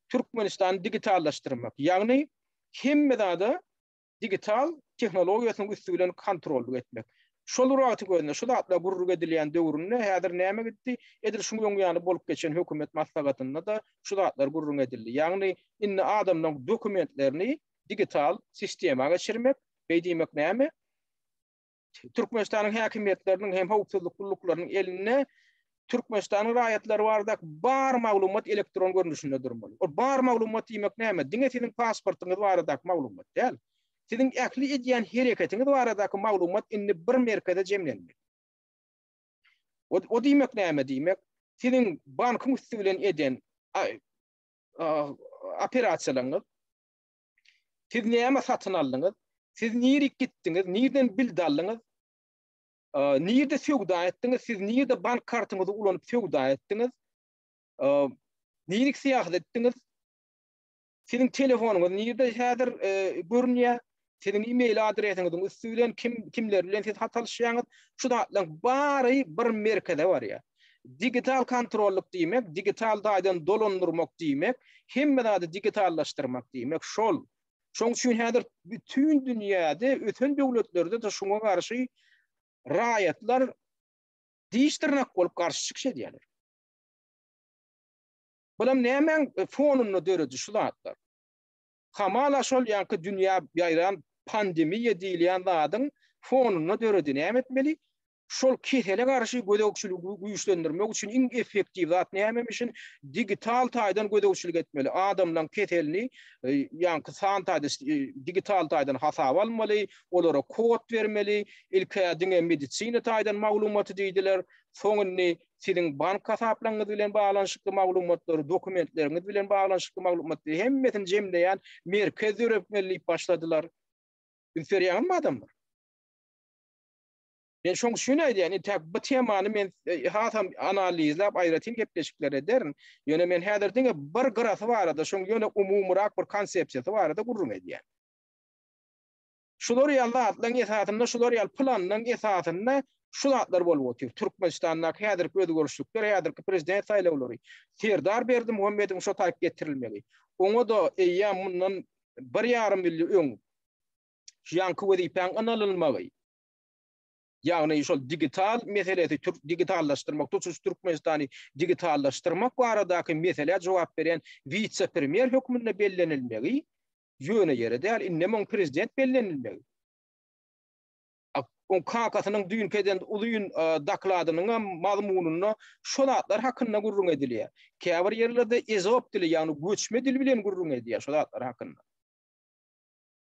Türkmenistany digitallaşdyrmak, ýagny hemme zada digital tehnologiýasynyň üsti bilen kontrollyk etmek. Şol bir wagtyň özünde, şu zatlar gürrüňi edilýän döwründe häzir näme gitdi? Edil şuň öň ýany bolup geçen hökümet maslahatynda-da şu zatlar gürrüňi edildi. Ýagny indi adamlaryň dokumentlerini digital sistema geçirmek, beý diýmek näme? Türkmenistanyň häkimiýetleriniň hem howpsuzlyk gulluklarynyň elinde Türkmenistanyň raýatlary barada bar maglumat elektron görnüşinde durmaly. O bar maglumat diýmek näme? Diňe siziň pasportyňyz barada maglumat däl. Siziň ähli edýän hereketiňiz barada maglumat indi bir merkeze jemlenmeli. O, o diýmek näme diýmek? Siziň bankyň üsti bilen eden operasiýalaryňyz, Siz näme satyn aldyňyz? Siz nirik gitdiňiz? Nirden bild aldyňyz? Nirde söwda etdiňiz? Siz nirde bank kartyňyzy ulanyp söwda etdiňiz? Nirik syýahat etdiňiz? Siziň telefonyňyz nirde häzir e, görünýär? Siziň e-mail adresiňiziň üsti bilen kim kimler bilen siz hat alşýaňyz? Şu zatlaryň bary bir merkeze barýar. Digital kontrollyk diýmek, digital taýdan dolandyrmak diýmek, hemme zady digitallaşdyrmak diýmek şol. Şoň üçin häzir bütin dünýäde, ösen döwletlerde-de şuňa garşy raýatlar diş-dyrnak bolup garşy çykyş edýärler. Bulam nämäň fonunda döredi şu zatlar? Hamala şol ýaňky dünýä ýaýran pandemiýa diýilýän zadyň fonunda döredi. Näme etmeli? Şol kesele garşy gözegçiligi güýçlendirmek üçin iň effektiw zat nämemişin? Digital taýdan gözegçilik etmeli. Adamlaryň keselini ýaňky san taýda digital taýdan hasaba almaly, olara kod bermeli. Ilk-ä diňe medisina taýdan maglumaty diýdiler. Soň indi siziň bank hasaplaryňyz bilen baglanyşykly maglumatlary, dokumentleriňiz bilen baglanyşykly maglumatlary hemmesini jemleýän merkez döretmeli diýip başladylar. Üns berýäňizmi adamlar? Men şoň üçin aýdýan, indi bu temany men hasam analizläp, aýratyn gepleşikler ederin. Ýöne men häzir diňe bir gyrasy barada, şoň ýöne umumyrak bir konsepsiýasy barada gürrüň edýän. Şular ýaly zatlaryň esasynda, şular ýaly planyň esasynda şu zatlar bolup otyr. Türkmenistandaky häzirki özgerişlikler, häzirki prezident saýlawlary, Serdar Berdimuhamedowyň şo taýyp getirilmegi, oňa-da eýýäm mundan bir ýarym ýyl öň şu ýanky wezipäň ynalylmagy, ýagny şol digital meselesi, türk digitallaşdyrmak, tutuş Türkmenistany digitallaşdyrmak baradaky meselä jogap berýän wise-premýer hökmünde bellenilmegi ýöne ýere däl, indem oň prezident bellenilmegi. Oň kakasynyň düýnki eden uzyn dokladynyň hem mazmunynda şu zatlar hakynda gürrüň edilýär. Käbir ýerlerde ezop dili, ýagny göçme dil bilen gürrüň edýär şu zatlar hakynda.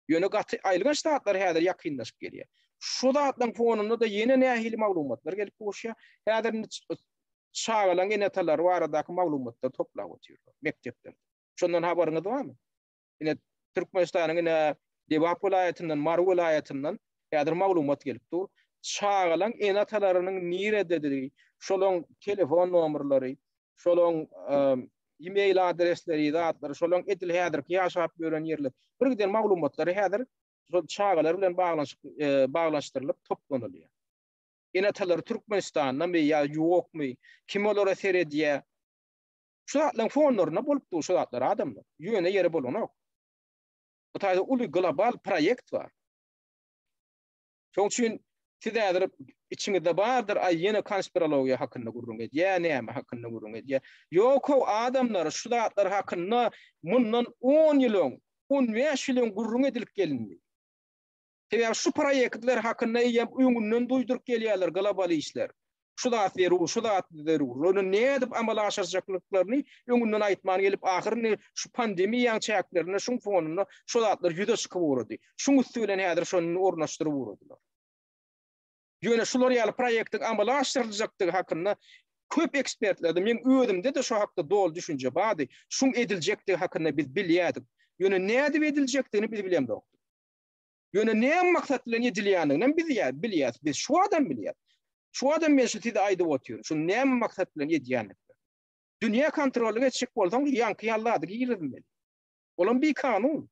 Ýöne gaty aýylganç zatlar häzir ýakynlaşyp gelýär. Şu zatlaryň fonunda-da ýene nähili maglumatlar gelip gowuşýar? Häzir indi çagalaryň ene-atalary baradaky maglumatlary toplap otyrlar mekdeplerde. Şondan habaryňyz barmy? Ine, Türkmenistanyň ine Lebap welaýatyndan, Mary welaýatyndan häzir maglumat gelip dur. Çagalaryň ene-atalarynyň nirededigi, şolaryň telefon nomerleri, şolaň e-mail adresleri, zatlary, şolaň edil häzirki ýaşap ýören ýerler. Bir giden maglumatlary häzir şol çagalar bilen baglanyşyk baglaşdyrylyp toplanylýar. Ene-atalar Türkmenistandanmy ýa ýokmy? Kim olara seredýär? Şu zatlaryň fonlarynda bolup dur şu zatlar adamlar. Ýöne ýere bolanok. Bu taýda uly global proýekt bar. Şoň üçin siz häzir içiňizde bardyr, aý ýene konspirologiýa hakynda gürrüň edýä, näme hakynda gürrüň edýä. Ýok-how adamlar şu zatlar hakynda mundan on ýyl öň, on bäş ýyl öň gürrüň edilip gelindi. Sebäbi şu proýektler hakynda eýýäm öňünden duýduryp gelýärler global işler. şu zat zerur, şu zat zerur. Ony nädip amala aşyrjaklyklaryny öňünden aýtman gelip, ahyryny şu pandemiýaň çäklerinde, şuň fonunda şu zatlar ýüze çykyp ugrady. Şuň üsti bilen häzir şony ornaşdyryp ugradylar. Ýöne şular ýaly proýektiň amala aşyryljakdygy hakynda köp ekspertlerde, meň özümde-de şu hakda doly düşünje bardy. Şuň ediljekdigi hakynda biz bilýärdik. Ýöne nädip ediljekdigini biz bilemzokdyk. Ýöne näme maksat bilen edilýändiginem biz ýa bilýäs. Biz şu adam bilýär. Şu adam men şu size aýdyp otyr. Şu näme maksat bilen edýändigini. Dünýä kontrollyk etjek bolsaň, ýaňky ýaly zady girizmeli. Olam bi kanun.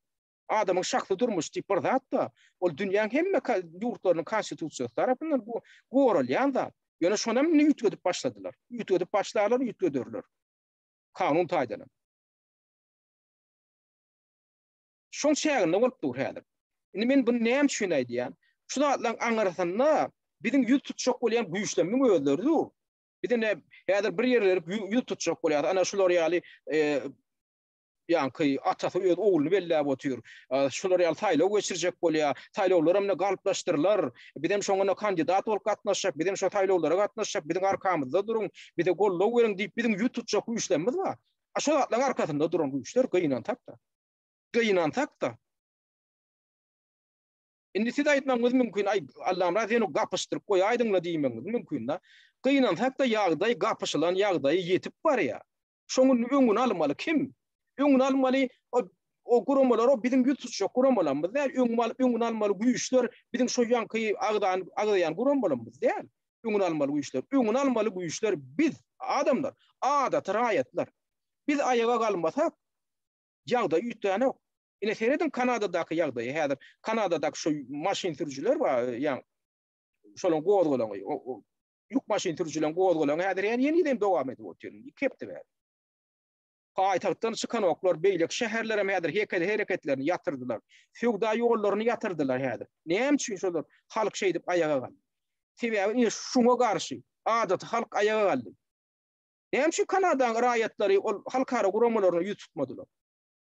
Adamyň şahsy durmuş diýip bir zat bar. Ol dünýäň hemme ýurtlarynyň konstitusiýasy tarapyndan bu goralýan zat. Ýöne şonam indi üýtgedip başladylar. Üýtgedip başlarlar, üýtgederler. Kanun taýdan. şoň çäginde bolup dur häzir. Indi men buny näme üçin aýdýan? Şu zatlaryň aňyrysynda biziň ýüz tutjak bolýan güýçlerimiň özleri dur. Biz indi häzir bir ýerleri ýüz tutjak bolýar. Ana şular ýaly ýaňky atasy öz ogluny belläp otyr. Şular ýaly saýlaw geçirjek bolýar. Saýlawlar hem galplaşdyrylar. Biz hem şoňa kandidat bolup gatnaşjak, biz hem şo saýlawlara gatnaşjak, biziň arkamyzda duruň, bize goldaw beriň diýip biziň ýüz tutjak güýçlerimiz bar. A şo zatlaryň arkasynda duran güýçler gynan tapda. Gynansak-da. Indi siz aýtmagyňyz mümkin, aý, Allamyrat ýene gapyşdyryp goýaýdyň-la diýmegiňiz mümkin-de. Gynansak-da ýagdaý gapyşylan ýagdaýa ýetip barýar. Şonuň öňüni almaly kim? Öňüni almaly o guramalar, o biziň ýüz tutjak guramalarymyz däl. Öňüni alyp, öňüni almaly güýçler biziň şo ýaňky agzany agzaýan guramalarymyz däl. Öňüni almaly güýçler. Öňüni almaly güýçler biz, adamlar, adaty raýatlar. Biz aýaga galmasak, Ýagdaý üýtgänok. Ine serediň Kanadadaky ýagdaýa häzir. Kanadadaky şo maşyn sürüjiler bar, ýaňy şolaryň gozgalaňy, ýük maşyn sürüjileriň gozgalaňy häzir henize hem dowam edip otyr, iki hepde bäri. Paýtagtdan çykanoklar, beýleki şäherler hem häzir hekel hereketlerini ýatyrdylar. Söwda ýollaryny ýatyrdylar häzir. Näme üçin şolar halk şeýdip aýaga galdy? Sebäbi ine şuňa garşy adaty halk aýaga galdy. Näme üçin Kanadanyň raýatlary ol halkara guramalaryna ýüz tutmadylar?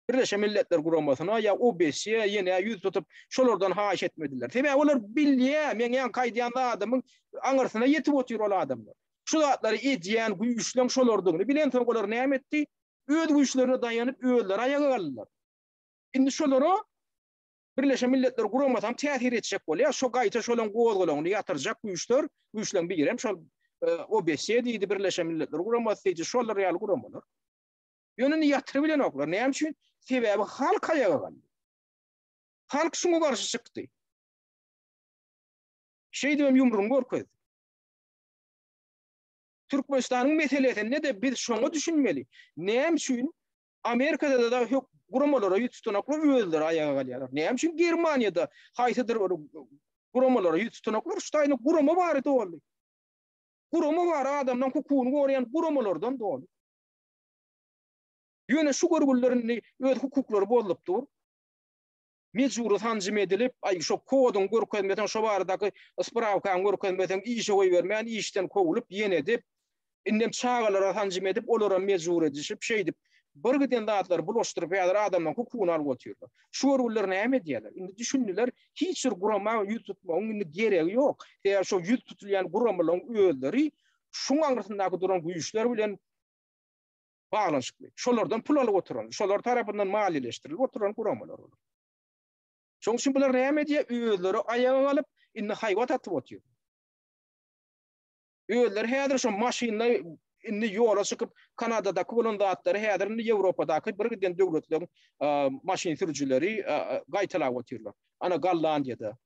Birleşen Milletler Guramasyna ýa OBSE-ä ýene ýüz tutup, şolardan haýyş etmediler. Sebäbi olar bilýär, meň ýaňky aýdýan zadymyň aňyrsyna ýetip otyr ol adamlar. Şu zatlary edýän güýçleň şolardygyny bilensoň olar näme etdi? Öz güýçlerine daýanyp, özleri aýaga galdylar. Indi şolara Birleşen Milletler Guramasam täsir etjek bolýar. Şo gaýta şolaň gozgalaňyny ýatyrjak güýçler, güýçleň birem şol OBS diýdi, Birleşen Milletler Guramasy diýdi, şolar ýaly guramalar. Ýöne indi ýatyryp bilenoklar. Näme üçin? Sebäbi halk aýaga galdy. Halk şuňa garşy çykdy. Şeýdibem ýumrugyny görkezdi. Türkmenistanyň meselesinde-de biz şoňa düşünmeli. Näme üçin Amerikada-da dagy hök guramalara ýüz tutanoklar özleri aýaga galýarlar. Näme üçin Germaniýada haýsydyr bir guramalara ýüz tutanoklar şu taýyny gurama bary doly. Gurama bar adamdan hukugyny goraýan guramalardan doly. Ýöne şu görgüliler indi öz hukuklary bozlupdyr. mejbury sanjym edilip, aý, şo koduň görkezmeseň, şo baradaky sprawkaň görkezmeseň, işe goýbermän, işden kowlup, ýene edip, indem çagalara sanjym edip, olaram mejbur edişip, şeýdip, bir giden zatlary bulaşdyryp, häzir adamlaryň hukugyny alyp otyrlar. Şu görgüliler näme edýärler? Indi düşündiler, hiç bir gurama ýüz tutmagyň indi geregi ýok. Sebäbi şo ýüz tutulýan guramalaryň özleri şuň aňyrsyndaky duran güýçler bilen baglanyşykly, şolardan pul alyp oturan, şolar tarapyndan maliýeleşdirilip oturan guramalar bolar. Şonuň üçin bular näme edýär? Özleri aýaga galyp, indi haýbat atyp otyrlar. Özleri häzir şu maşynda indi ýola çykyp, Kanadadaky bolan zatlary häzir indi Ýewropadaky bir giden döwletleriň maşyn sürüjileri gaýtalap otyrlar. Ana Gollandiýada,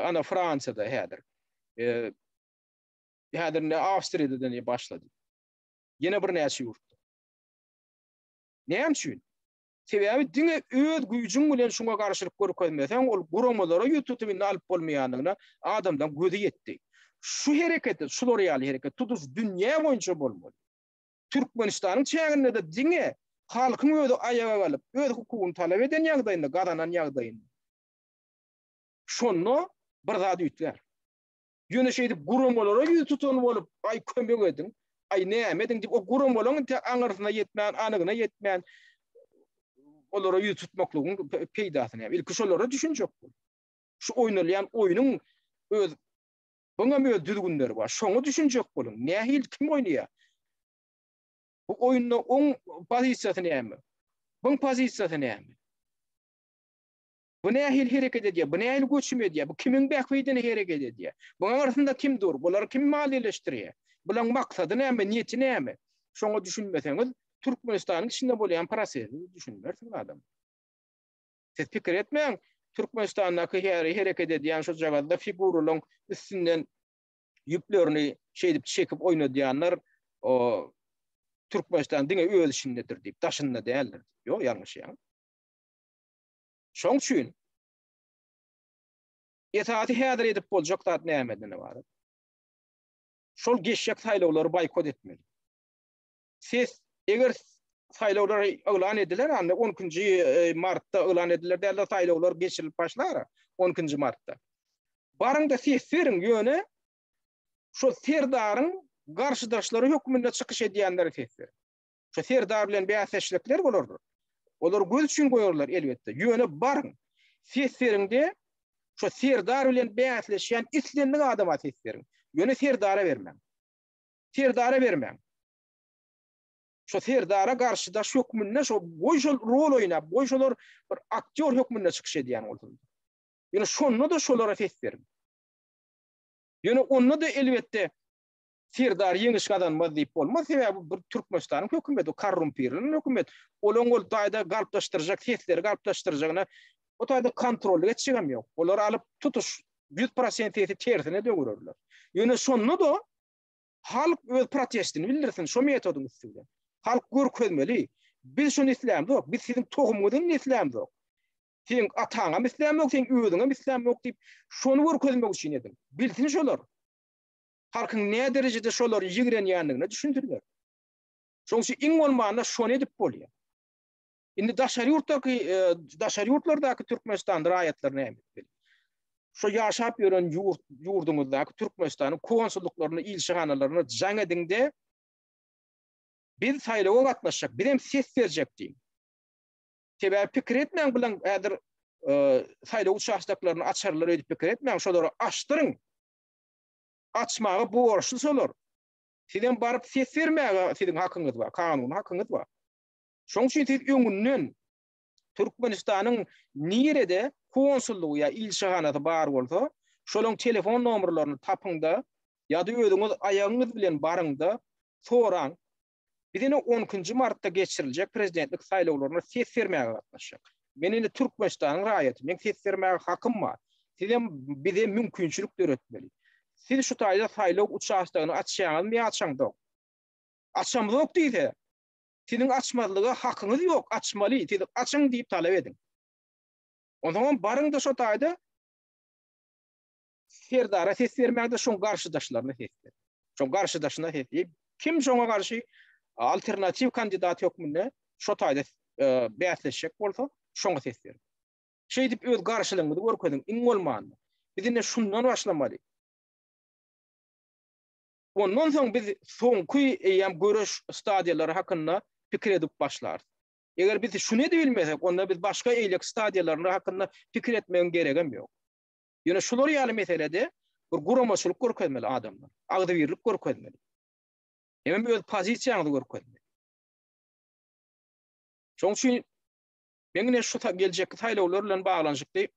ana Fransiýada häzir. Häzir indi Awstriýada-da başlady. ýene birnäçe ýurtda. Näme üçin? Sebäbi diňe öz güýjüň bilen şuňa garşylyk görkezmeseň, ol guramalara ýüz tutup indi alyp bolmaýandygyna adamlaryň gözi ýetdi. Şu hereketi, şular ýaly hereket tutuş dünýä boýunça bolmaly. Türkmenistanyň çäginde-de diňe halkyň özi aýaga galyp, öz hukugyny talap eden ýagdaýynda, gazanan ýagdaýynda. Şonda bir zat üýtgär. Ýöne şeýdip guramalara ýüz tutan bolup, aý kömek ediň, aý näme ediň diýip o guramalaň tä aňyrsyna ýetmän, anygyna ýetmän olara ýüz tutmaklygyň peýdasy näme? Ilki şolara düşünjek bol. Şu oýnalýan oýnuň öz buňam öz düzgünleri bar. Şoňa düşünjek boluň. Nähili kim oýnaýar? Bu oýunda oň pozisiýasy näme? Buň pozisiýasy näme? Bu nähili hereket edýär? Bu nähili göçüm edýär? Bu kimiň bähbidine hereket edýär? Bunuň arsynda kim dur? Bulary kim maliýeleşdirýär? Bulaň maksady näme, niýeti näme? Şoňa düşünmeseňiz, Türkmenistanyň içinde bolýan prosesi düşünmersiňiz adamlar. Siz pikir etmäň, Türkmenistandaky her hereket edýän şojagazda figuralaryň üstünden ýüplerini şeýdip çekip oýnadýanlar, o, Türkmenistan diňe öz işindedir diýip, daşynda däldir diýip. Ýok, ýalňyşýaňyz. Şoň üçin esasy häzir edip boljak zat nämeden ybarat? Şol geçjek saýlawlary boýkot etmeli. Ses eger saýlawlar yglan ediler, anda 12-nji e, martda yglan ediler dälde saýlawlar geçirilip başlar 12-nji martda. Baryňda ses beriň, ýöne şol serdaryň garşydaşlary hökmünde çykyş edýänleri ses beriň. Şo Serdar bilen bäsdeşlikler bolardyr. Olar göz üçin goýarlar elbetde. Ýöne baryň. Ses beriňde şo Serdar bilen bäsleşýän islendik adama ses beriň. Ýöne Serdara bermäň. Serdara bermäň. Şo Serdara garşy daş hökmünde şo goý şol rol oýnap, goý şolar bir aktýor hökmünde çykyş edýän bolsun. Ýöne şonda da şolara ses beriň. Ýöne onda da elbetde Serdar ýeňiş gazanmaz diýip bolmaz, sebäbi bu Türkmenistanyň hökümeti, korrumpirlenen hökümet. Olaň ol taýda galplaşdyrjak sesleri galplaşdyrjagyna o taýda kontrolly geçjegem ýok. Olar alyp tutuş ýüz prosent sesi tersine döwürerler. Ýöne şonda-da halk öz protestini bildirsin şo metodyň üsti bilen. Halk görkezmeli. Biz şuny islämzok, biz siziň tohumyňyzam islämzok. Seň ataňam islämzok, seň özüňem islämzok diýip, şony görkezmek üçin edin. Bilsin şolar. halkyň näderejede şolary ýigrenýändigine düşündirýärdi. Şonuň üçin iň bolmanda şony edip bolýar. Indi daşary ýurtdaky, daşary ýurtlardaky Türkmenistan raýatlary näme etmeli? Şu ýaşap ýören ýurt, ýurduňyzdaky Türkmenistanyň konsullyklaryna, ilçihanalaryna jaň ediňde, biz saýlawa gatnaşjak, biz hem ses berjek diýiň. Sebäbi pikir etmäň bilen häzir e, saýlaw uçastoklaryny açarlar öýdüp pikir etmäň, şolary açdyryň. açmaga borçly şolar. Sizem baryp ses bermäge siziň hakyňyz bar, kanuny hakyňyz bar. Şoň üçin siz öňünden Türkmenistanyň nirede konsullygy ýa ilçihanasy bar bolsa, şolaryň telefon nomerlerini tapyňda ýa-da özüňiz aýagyňyz bilen baryňda soraň, Biz indi on ikinji martda geçiriljek prezidentlik saýlawlaryna ses bermäge gatnaşjak. Men indi Türkmenistanyň raýaty, meň ses bermäge hakym bar. Sizem bize mümkinçilik döretmeli. Siz şu taýda saýlaw uçastogyny açýaňyzmy ýa açaňzok? Açamzok diýse, siziň açmazlyga hakyňyz ýok, açmaly, siz açyň diýip talap ediň. Onsoňam baryň-da şo taýda Serdara ses bermäge şoň garşydaşlaryna ses ber. Şoň garşydaşyna ses ber. Kim şoňa garşy alternatiw kandidat hökmünde şo taýda e, bäsleşjek bolsa, şoňa ses ber. Şeýdip öz garşylygyňyzy görkeziň, iň bolmanda. Biz indi şundan başlamaly. Ondan soň biz soňky eýýäm göreş stadiýalary hakynda pikir edip başlarys. Eger biz şuny edip bilmesek, onda biz başga eýlek stadiýalary hakynda pikir etmegiň geregem ýok. Ýöne şular ýaly meselede bir guramaçylyk görkezmeli adamlar. Agzybirlik görkezmeli. Hemem öz pozisiýaňyzy görkezmeli. Şoň üçin men ine şu geljekki saýlawlar bilen baglanyşykly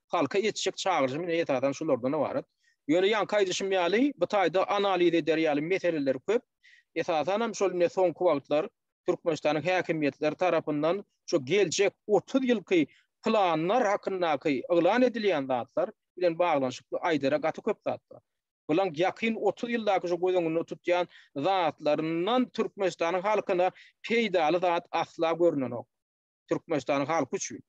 halka etjek çagyryşym ine esasan şulardan ibarat. Ýöne ýanky aýdyşym ýaly bu taýda analiz eder ýaly meseleler köp. Esasan hem şol ine soňky wagtlar Türkmenistanyň häkimiýetleri tarapyndan şu geljek otuz ýylky planlar hakyndaky yglan edilýän zatlar bilen baglanyşykly aýdara gaty köp zat bar. Bulaň ýakyn otuz ýyldaky şu göz öňünde tutýan zatlaryndan Türkmenistanyň halkyna peýdaly zat asla görnenok. Türkmenistanyň halky üçin.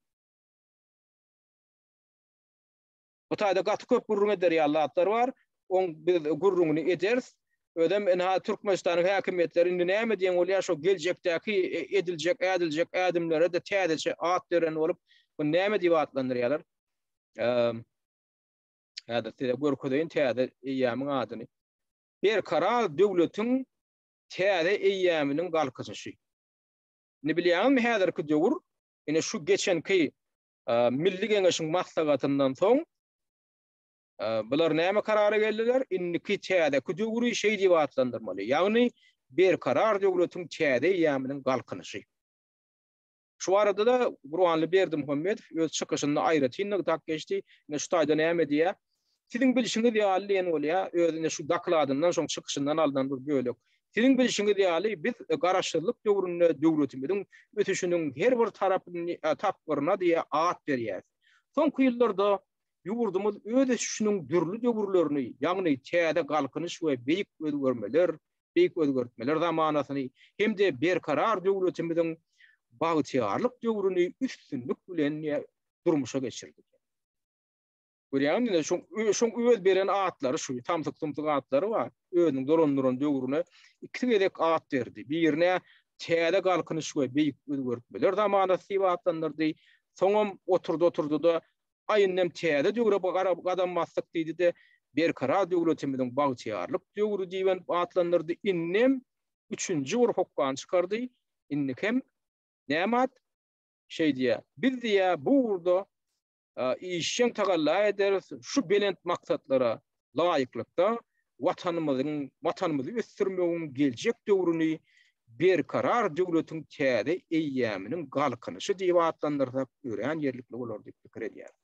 Bu taýda gaty köp gürrüň eder ýaly zatlar bar. Oň biz gürrüňini ederis. Özem ynha Türkmenistanyň häkimiýetleri indi näme diýen bolýar şo geljekdäki ediljek, ädiljek ädimlere-de täzeçe at beren bolup, muny näme diýip atlandyrýarlar? Häzir size görkezeýin täze eýýamyň adyny. Berkarar döwletiň täze eýýamynyň galkynyşy. Indi bilýäňizmi häzirki döwür ine şu geçenki Milli Geňeşiň maslahatyndan soň bular näme karara geldiler? Indiki täzeki döwri şeý diýip atlandyrmaly, ýagny Berkarar döwletiň täze eýýamynyň galkynyşy. Şu barada-da Gurbanly Berdimuhamedow öz çykyşynda aýratyn nygtap geçdi. Ine şu taýda näme diýýär? Siziň bilşiňiz ýaly diýen bolýa, özüne şu dokladyndan soň çykyşyndan alnan bir bölek. Siziň bilşiňiz ýaly, biz Garaşsyzlyk döwründe döwletimiziň ösüşiniň her bir tarapyny tapgyryna diýe at berýäs. Soňky ýyllarda ýurdumyz öz ösüşiniň dürli döwürlerini, ýagny täze Galkynyş we beýik özgermeler, beýik özgertmeler zamanasyny hem-de Berkarar döwletimiziň bagtyýarlyk döwrüni üstünlik bilen durmuşa geçirdi. Görýäňmi indi şoň şoň öz beren atlary şu tamsyk tumsyk atlary bar. Özüniň dolandyran döwrüne iki gezek at berdi. Birine täze galkynyş we beýik özgertmeler zamanasy diýip atlandyrdy. Soňam oturdy oturdy da aýyndam täze döwre garap gadam basdyk diýdi de berkarar döwletimiziň bagtyýarlyk döwri diýen atlandyrdy. Indem üçünji bir hokgan çykardy. Indi hem näme at? Şeý diýýär. Biz diýýär bu ugurda işjeň tagalla ederis, şu belent maksatlara laýyklykda, Watanymyzyň, Watanymyzy ösdürmegiň geljek döwrüni Berkarar döwletiň täze eýýäminiň Galkynyşy diýip atlandyrsak, örän ýerlikli bolar diýip pikir edýäris.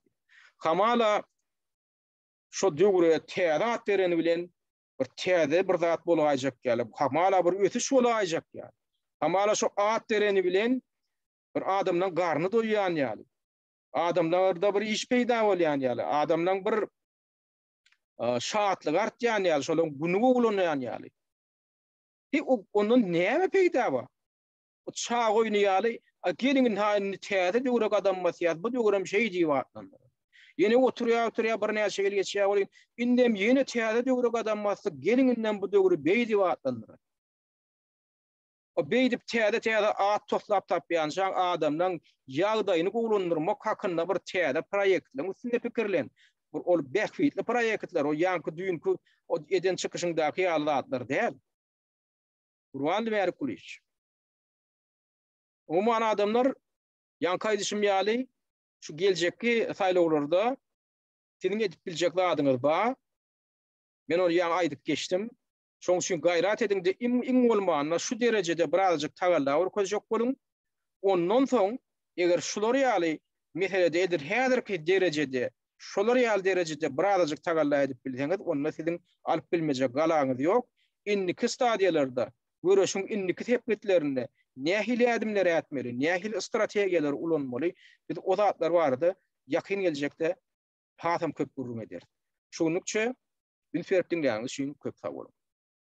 Hamala, şu döwre täze at bereni bilen bir täze bir zat bolaýjak ýaly, hamala bir ösüş bolaýjak ýaly. Hamala şu at bereni bilen bir adamdan garny doýýan ýaly. adamlarda bir iş peýda bolýan ýaly, adamlaň bir şatlyk artýan ýaly, şolaň güni gowulanýan ýaly. He, ondan näme peýda bar? O çag oýny ýaly, a geliň indi ha indi täze döwre gadam basýas, bu döwrem şeý diýip atlandyr. Ýene oturýar, oturýar, birnäçe ýyl geçýär welin, indem ýene täze döwre gadam basdyk, geliň indem bu döwri beý diýip atlandyr. O beýdip täze-täze at toslap tapýançaň adamlaň ýagdaýyny gowulandyrmak hakynda bir täze proýektleriň üstünde pikirlen. Bir ol bähbitli proýektler, ol ýaňky düýnki o eden çykyşyňdaky ýaly zatlar däl. Gurbandy Mälikgulyýewiç. Umuman adamlar ýaňky aýdyşym ýaly şu geljekki saýlawlarda siziň edip biljek zadyňyz bar. Men ony ýaňy aýdyp geçdim. Şoň üçin gaýrat ediň-de, iň bolmanda şu derejede birazajyk tagalla görkezjek boluň. Ondan soň, eger şular ýaly meselede edil häzirki derejede, şolar ýaly derejede birazajyk tagalla edip bilseňiz, onda siziň alyp bilmejek galaňyz ýok. Indiki stadiýalarda, göreşiň indiki sepgitlerinde nähili ädimleri ätmeli, nähili strategiýalary ulanmaly, biz o zatlar barada ýakyn geljekde hasam köp gürrüň ederis. Şu günlükçe üns berip diňleýäniňiz üçin köp sag boluň.